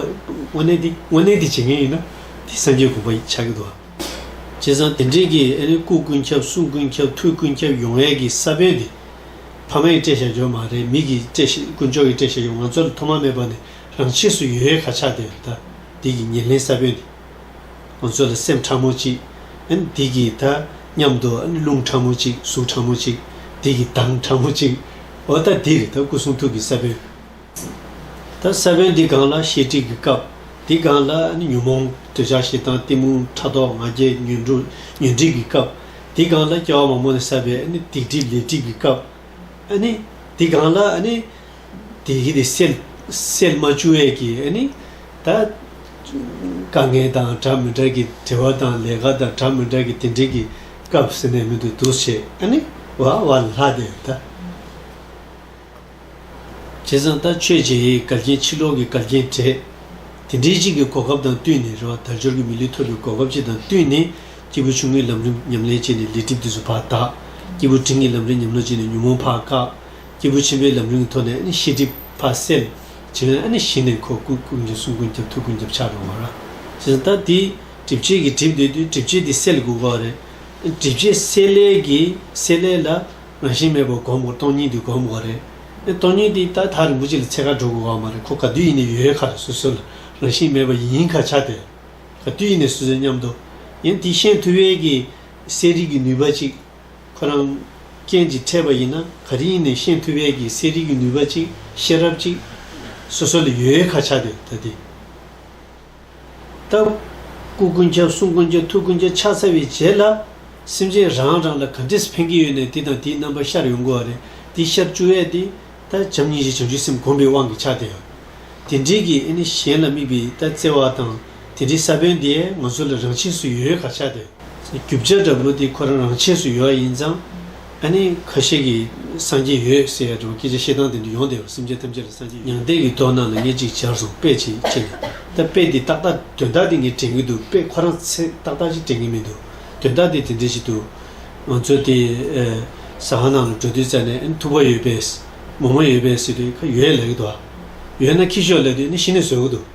དངོས་གནས་དེ་དངོས་གནས་དེ་བྱེད་མཁན་ཡིན་ན་དེ་སངས་རྒྱས་དགོངས་པ་ཆགས་ཀྱི་འདུག་བྱས་ཙང་དེ་འདྲས་ཀྱི་ཨ་རིའི་སྐུ་ཀུན་ཁྱབ་གསུང་ཀུན་ཁྱབ་ཐུགས་ཀུན་ཁྱབ་ཡོང་ཡས་ཀྱི་ས་བོན་དེ་ཕ་མ་ཡི་སྤྲད་བཞག་འགྱོ་མ་རེད་མིག་གི་སྤྲད་བཞག་དཀོན་མཆོག་གི་སྤྲད་བཞག་ཡོང་ང་ཚོར་ཐོག་མ་མེད་པ་ནས་རང་ཆས་སུ་ཡོ་ཡས་ཁ་ཆགས་དེ་རེད་ད་འདིས་ཀྱི་ཉེར་ལེན་ས་བོན་དེ། ཁོང་ཚོ་ལ་སེམས་ཕྲ་མོ་གཅིག་འདི་གི་ད་སྙམ་དུ་རླུང་ཕྲ་མོ་གཅིག་གཟུགས་ཕྲ་མོ་གཅིག་འདི་གི་མདངས་ཕྲ་མོ་གཅིག་འོ་ད་འདིར་ད་སྐུ་གསུང་ཐུགས་ཀྱི་ས་བོན་ད་ས་བོན་འདི་གང་ལ་བཤད་ཁྲིད་ཀྱི་སྐབས་འདི་གང་ལ་ཉོན་མོངས་འདོད་ཆགས་ཞེ་སྡང་གཏི་མུག་ཕྲག་དོག་ང་རྒྱལ་ཉོན་སྒྲིག་གི་སྐབས་འདི་གང་ལ་སྐྱེ་བ་མ་མོ་ནས་བསགས་པའི་སྡིག་སྒྲིབ་ལས་སྒྲིབ་ཀྱི་སྐབས་འདི་གང་ལ། དེ་བཞིན་དུ་སེལ། སེལ་མ་བྱུང་བས་ཀྱི་ནི། ད། དཀའ་ངལ་དང་དྲག་མི་དྲག་གི་དྲི་བ་དང་ལས་ཀ་དང་དྲག་མི་དྲག་གི་དེ་འབྲེལ་གྱི་སྐབས་ཟེར་ནས་མི་འདུག་འདུག་བྱེད་ཨ་ནི། བ་བ་ལ་ལྷ་དེ་ད། བྱས་ཙང་ད་ཆོས་རྗེ་ཡི་གར་རྒྱན་ཕྱི་ལོག་གི་གར་རྒྱན་དྲེད། དེ་འབྲེལ་གཅིག་གི་གོ་སྐབས་དང་བསྟུན་ནས་རེ་བ་དལ་འབྱོར་གྱི་མི་ལུས་ཐོབ་པའི་གོ་སྐབས་གཅིག་དང་བསྟུན་ནས་སྐྱེས་བུ་ཆུང་ངུའི་ལམ་རིམ་ཉམས་ལེན་བྱས་ནས་ལས་སྒྲིབ་དུས་སུ་བར་དག། སྐྱེས་བུ་འབྲིང་གི་ལམ་རིམ་ཉམས་ལོ་བྱས་ནས་ཉོན་མོངས་བར་བཀག། སྐྱེས་བུ་ཆེན་པོའི་ལམ་རིང་མཐོ་ནས་ནི་ཤེས་སྒྲིབ་བར་སེལ། བྱིན་རླབས་ནི་ཞི་ནས་འཁོར་བསྐུལ་ཀུན་མཁྱེན་གསུང་ཀུན་རྒྱབ་ཐུགས་ཀུན་རྒྱབ་ཕྱག་རོལ་བར། ཞེས་དང། དེས་སྒྲིབ་བྱེད་ཀྱི་གྲིབ་འདོད་དུས་སྒྲིབ་བྱེད་དེ་སེལ་དགོས་པ་རེད། སྒྲིབ་བྱེད་སེལ་སླད་ཀྱི་སེལ་སླད་ལ་རང་བཞིན་མེད་པར་བསྒོམ་དགོས་སྟོང་ཉིད་དུ་བསྒོམ་དགོས་རེད། སྟོང་ཉིད་དེ་ད་ལྟ་རིན་པོ་ཆེ་ལ་ཚད་ཁ་འགྲོ་དགོས་པ་མ་རེད་ཁོ་ག་དུས་ཡིན་ནས་ཡོད་ཡོད་ཁ་རེད་སོ་སོ་ལ་རང་བཞིན་མེད་པ་ཡིན་ཁ་ཆ་དེ་ག་དུས་ཡིན་ནས་སོ་སོའི་སྙམ་དུ་ཡིན་དེ་ཤེས་ཐུབ་ཡས་ཀྱི་གསལ་རིག་གི་ནུས་པ་ཅིག་ཁོ་རང། རྐྱེན་གྱིས་འཕྲད་པ་ཡིན་ན་ག་རེ་ཡིན་ནས་ཤེས་ཐུབ་བས་ཀྱི་གསལ་རིག་གི་ནུས་པ་ཅིག་ཤེས་རབ་ཅིག། སོ་སོ་ལ་ཡོད་ཁ་ཆགས་དེ་ད་དེ། སྟབས། སྐུ་ཀུན་ཁྱབ་གསུང་ཀུན་ཁྱབ་ཐུགས་ཀུན་ཁྱབ་ཕྱག་འཚལ་བའི་རྗེས་ལ། སེམས་ཅན་རང་རང་ལ་ག་འདྲེས་ཕན་གྱི་ཡོད་ནས་དེ་དང་དེའི་རྣམ་པ་ཤར་ཡོང་དགོས་བ་རེད་དེ་ཤར་བཅུག་བས་དེ། ད་བྱམས་སྙིང་རྗེ་བྱང་ཆུབ་སེམས་གོམས་པའི་དབང་གིས་ཆགས་དེ། དེ་འདྲེས་ཀྱི་ཨེ་ནི་གཞན་ལ་དམིགས་པའི་ད་བརྩེ་བ་དང། དེ་འདྲའི་ས་བོན་དེ་ང་ཚོ་ལ་རང་ཆས་སུ་ཡོད་ག་ཆགས་ཏེ། རྒྱུ་བྱ་འདྲ་པོ་དེ་ཁོ་རང་རང་ཆས་སུ་ཡོད་ཡིན་ཙང། ཨ་ནི་ཁ་ཤས་ཀྱིས་སངས་རྒྱས་ཡོད་ཟེར་ཡ་འདྲ་བོ་སྐད་ཆ་བཤད་སྟངས་དེ་འདྲ་ཡོང་སྟེ་སེམས་ཅན་ཐམས་ཅད་ལ་སངས་རྒྱས་ཡོད། མྱང་འདས་ཀྱི་དོགས་སྣང་ལ་ངས་ཅིག་ཅར་སོང་དཔེ་ཅིག་བཅད་ནས་ད་དཔེ་འདི་ཏག་ཏག་དོན་དག་དེ་ངས་དྲན་གྱི་འདུག་དཔེ་ཁོ་རང་ཚས་ཏག་ཏག་ཅིག་དྲན་གྱི་མི་འདུག་དོན་དག་དེ་དེ་འདྲ་ཞིག་འདུག་ང་ཚོ་དེ་ཟ་ཁང་ནང་ལ་འགྲོ་དུས་རྩ་ནས་ཨ་ནི་ཐུག་པ་ཡོད་པས། མོག་མོག་ཡོད་པས་ཟེར་དུས་ཁ་ཡོད་ལབ་ཀྱི་འདུག་ཨ། ཡོད་ན་ཁྱི་ཤོག་ལབ་དུས་ཨ་ནི་ཤི་ནས་ཟོས་ཀྱི་འདུག།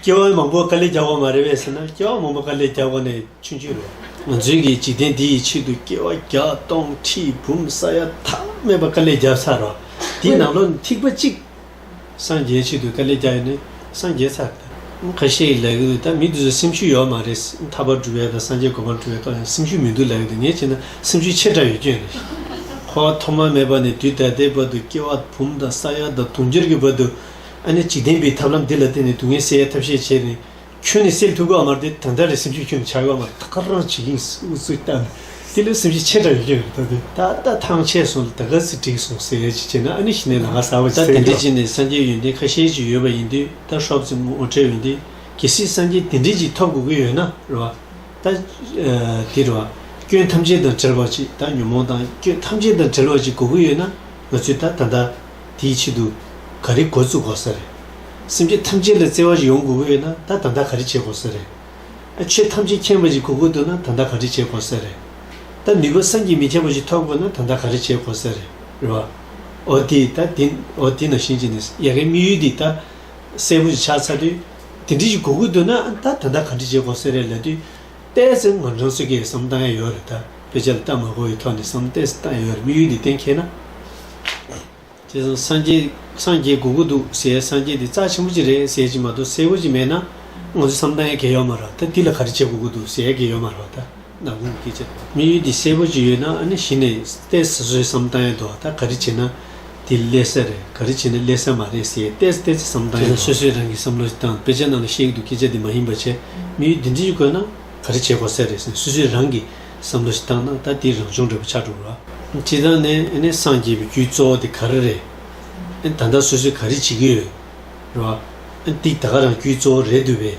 སྐྱེ་བ་མང་པོ་དཀའ་ལས་བརྒྱག་པ་མ་རེད་བས་ཟེར་ན་སྐྱེ་བ་མང་པོ་དཀའ་ལས་བརྒྱག་པ་ནི་ཆུང་ཆུང་རེད། ང་ཚོའི་གི་འཇིག་རྟེན་འདི་ཡི་ཕྱིར་དུ་སྐྱེ་བ་བརྒྱ་སྟོང་ཁྲི་འབུམ་ས་ཡ་ཐ་མལ་པ་དཀའ་ལས་བརྒྱབ་ཚར་རོ། དེའི་ནང་བློ་ཐིག་པ་གཅིག་སངས་རྒྱས་ཕྱིར་དུ་དཀའ་ལས་བརྒྱག་ཡོད་ནི་སངས་རྒྱས་ཚར་རེད། ཁ་ཤས་ཀྱི་ལས་ཀྱི་འདུག་ད་མི་དེ་ཚོ་སེམས་ཤུགས་ཡོད་མ་རེད། ཐར་པར་འགྲོ་བའི་དང་སངས་རྒྱས་དགོངས་པར་འགྲོ་བའི་ཐོག་ཡང་སེམས་ཤུགས་མི་འདུག་ལས་ཀྱི་འདུག་ངས་བྱས་ན་སེམས་ཤུགས་ཆེ་དྲགས་ཡོད་སྐྱོན་རེད། ཁོ་བ་ཐོག་མ་མེད་པ་ནས་དུས་ད་ལྟའི་བར་དུ་སྐྱེ་བ་འབུམ་དང་ས་ཡ་དང་དུང་ཕྱུར་གྱི་བར་དུ། ཨ་ནི་འཇིག་རྟེན་པའི་ཐབས་ལམ་འདི་ལ་བརྟེན་ནས་སྡུག་བསྔལ་སེལ་ཡ་ཐབས་ཤེས་བྱས་ནས། ཁྱོད་ནི་སེམས་ཐུགས་ཀརྨར་དེ་ད་ལྟ་ལས་སེམས་ཆོས་ཁྱོད་འཆར་ཀརྨར་ད་ག་རང་བྱེད་ཀྱིན་སུ་ཚུལ་ལྟ་ནས་དེ་ལས་སེམས་ཅན་ཆེ་དྲགས་ཡོད་ཀྱིན་རེད་ད་དེ་ད་ལྟ་ཐང་ཆད་སོང་ལ་ད་ག་ཚི་འགྲིག་སོང་ཟེར་ཡ་ཅིག་བྱས་ན་ཨ་ནི་ཞི་གནས་ལ་ང་ཟ་བ་ཅིག་ད་འདི་འདྲའི་བྱས་ནས་སངས་རྒྱས་ཡོན་ཏན་ཁ་ཤས་ཅིག་ཡོད་པ་ཡིན་དུས་ད་ཧྲོབ་ཙེ་ངོ་འཕྲད་འོན་ཏེ་གལ་སྲིད་སངས་རྒྱས་དེ་འདྲས་ཅིག་ཐོབ་དགོས་ཀྱི་ཡོད་ན་རེ་བ། ད་དེ་རེ་བ། སྐྱོན་ཐམས་ཅད་དང་བྲལ་བ་ཅིག་ད་ཉོན་མོངས་དང་སྐྱོན་ཐམས་ཅད་དང་བྲལ་བ་ཅིག་དགོས་ཀྱི་ཡོད་ན་ང་ཚོས་ད་ད་ལྟ། དེའི་ཆེད་དུ་ག་རེ་འགོ་བཙུགས་དགོས་ས་རེད། སེམས་ཅན་ཐམས་ཅད་ལ་བརྩེ་བ་ཞིག་ཡོང་དགོས་ཀྱི་ཡོད་ན་ད་ད་ལྟ་ག་རེ་བྱེད་དགོས་ས་རེད། ཨ་ཆོས་ཐམས་ཅད་མཁྱེན་པ་ཞིག་གོ་དགོས་འདུག་ན་ད་ད་ག་རེ་བྱེད་དགོས་ས་རེད། ད་ནུས་པ་བསམ་གྱིས་མི་ཁྱབ་པ་ཞིག་ཐོབ་དགོས་ན་ད་ད་ག་རེ་བྱེད་དགོས་ས་རེད། རེད་བ། འོ་དེ་ད་དེ་འོ་དེ་ནང་བཞིན་བྱས་ནས་ཡ་གའི་དམིགས་ཡུལ་འདི་ད་གསལ་པོ་ཞིག་ཆགས་ཚར་དུས་དེ་འདྲི་ཞིག་གོ་དགོས་འདུག་ན་ད་ད་ད་ག་རེ་བྱེད་དགོས་ས་རེད་ལབ་དུས། བལྟས་ཚེ་ང་རང་ཚོས་སྐད་གསུམ་བཏང་ཡ་ཡོད་རེད་ད་བེད་སྤྱོད་ལ་ལྟ་མ་གོ་ཡི་ཐོག་ནས་སུམ་བལྟས་བཏང་ཡ་ཡོད་རེད་དམིགས་ཡུལ་འདི་གཏན་འཁེལ་ན། དེ་བཟང་སངས་རྒྱས་སངས་རྒྱས་དགོས་ཀྱི་འདུག་ཟེར་སངས་རྒྱས་དེ་རྩ་ཆེན་པོ་གཅིག་རེད་ཟེར་གྱི་མ་གཏོགས་གསལ་བོ་གཅིག་མེད་ན། ང་ཚོས་བསམ་བཏང་ཡ་གལ་ཡོད་མ་རེད་ད་དེ་ལ་ག་རེ་བྱེད་དགོས་ཀྱི་འདུག་ཟེར་ཡ་གལ་ཡོད་མ་རེད་ད། ནམ་གུང་གི་སྐད་ཆ་དམིགས་ཡུལ་འདི་གསལ་བོ་གཅིག་ཡོད་ན་ཨ་ནི་གཞི་ནས་བལྟས་ཚེ་ཟོས་བསམ་བཏང་ཡ་འདུག་ད་ག་རེ་བྱེད་ན། དེ་ཀླད་གསལ་རེད་ག་རེ་བྱས་ནས་ཀླད་གསལ་མ་རེད་ཟེར་ཏེ་ཏེ་ཙི་བསམ་སྟངས་ཡིན་ནོ། དེ་ལ་སོ་སོས་རང་གི་བསམ་བློ་དང་དཔེ་ཆ་རྣམས་ལ་ཤེས་ཀྱི་འདུག་སྐད་ཆ་དེ་མ་ཡིན་པ་བྱས་དམིགས་ཡུལ་འདི་འདྲི་དགོས་ན་ག་རེ་བྱེད་དགོས་གསལ་རེད་ཟེར་སོ་སོས་རང་གི་བསམ་བློ་ཞིག་བཏང་ན་ད་དེའི་རང་བྱུང་འབྲས་བུ་ཆགས་འགྲོ་གི་རེད། དེ་དང་ནི་ཨནི་སངས་རྒྱས་པའི་རྒྱུའི་གཙོ་བོ་དེ་ག་རེ་རེད། ཨནི་ད་ལྟ་སོ་སོས་ག་རེ་བྱེད་ཀྱི་ཡོད། རེད། ཨནི་ཏིག་ད་ག་རང་རྒྱུའི་གཙོ་བོ་རེད་འདུག་པས།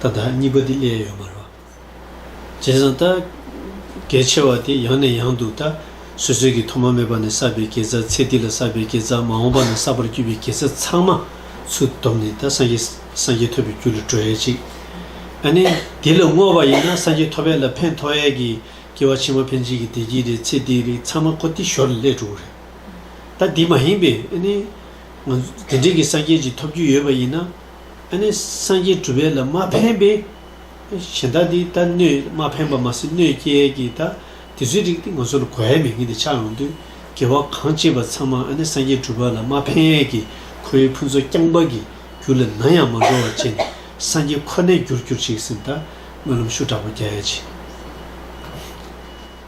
ད་དག་གཉིས་པ་འདི་སླད་ཡོད་མ་རོ། བྱས་ཙང་ད་གལ་ཆེ་བ་དེ་ཡང་ནས་ཡང་དུ་ད་གཟོད་ཚོད་ཀྱིས་ཐོག་མ་མེད་པ་ནས་བསགས་པའི་དགེ་རྩ་ཚེ་འདི་ལ་བསགས་པའི་དགེ་རྩ་མ་འོངས་པ་ན་བསགས་པར་གྱུར་པའི་དགེ་རྩ་ཚང་མ་ཚུར་བསྡོམས་ནས་ད་སངས་རྒྱས་སངས་རྒྱས་ཐོབ་པའི་རྒྱུ་ལ་འགྲོ་ཡས་ཅིག། ཨ་ནི་དེ་ལ་བསྔོ་བ་ཡིན་ན་སངས་རྒྱས་ཐོབ་པའི་ལ་ཕན་ཐོགས་ཡས་ཀྱི་སྐྱེ་བ་ཕྱི་མ་ཕན་ཆད་ཀྱི་བདེ་སྐྱིད་རེད་ཚེ་འདིའི་རིགས་ཚང་མ་ཁོ་ཏི་ཞོར་ལ་སླད་འགྲོ་གི་རེད། ད་དེ་མ་ཡིན་པས་ཨ་ནི། ང་ཚོ་དེ་འདྲས་ཀྱི་སངས་རྒྱས་ཅིག་ཐོབ་རྒྱུ་ཡོད་པ་ཡིན་ན། ཨ་ནི་སངས་རྒྱས་གྲུབ་པའི་ལ་མ་ཕན་པས། གཞན་དག་འདི་ལྟ་གནོད་མ་ཕན་པ་མ་ཟིན་གནོད་སྐྱེལ་གྱི་ལྟ། དེ་ཚོའི་རིགས་འདི་ང་ཚོ་ལ་གོ་བའི་མི་ངན་དེ་ཆགས་ཡོང་དུས། དགེ་བ་གང་སྐྱེས་པ་ཚང་མ་ཨ་ནི་སངས་རྒྱས་གྲུབ་པ་ལ་མ་ཕན་གྱི་ཁོའི་ཕུན་ཚོགས་རྐྱང་པ་གི་རྒྱུ་ལས་ནམ་ཡང་མ་འགྲོ་བ་བྱས་ནས་སངས་རྒྱས་ཁོ་ནའི་རྒྱུར་གྱུར་ཅིག་ཟེར་ལྟ། སྨོན་ལམ་ཤུ་དྲག་པོ་རྒྱས།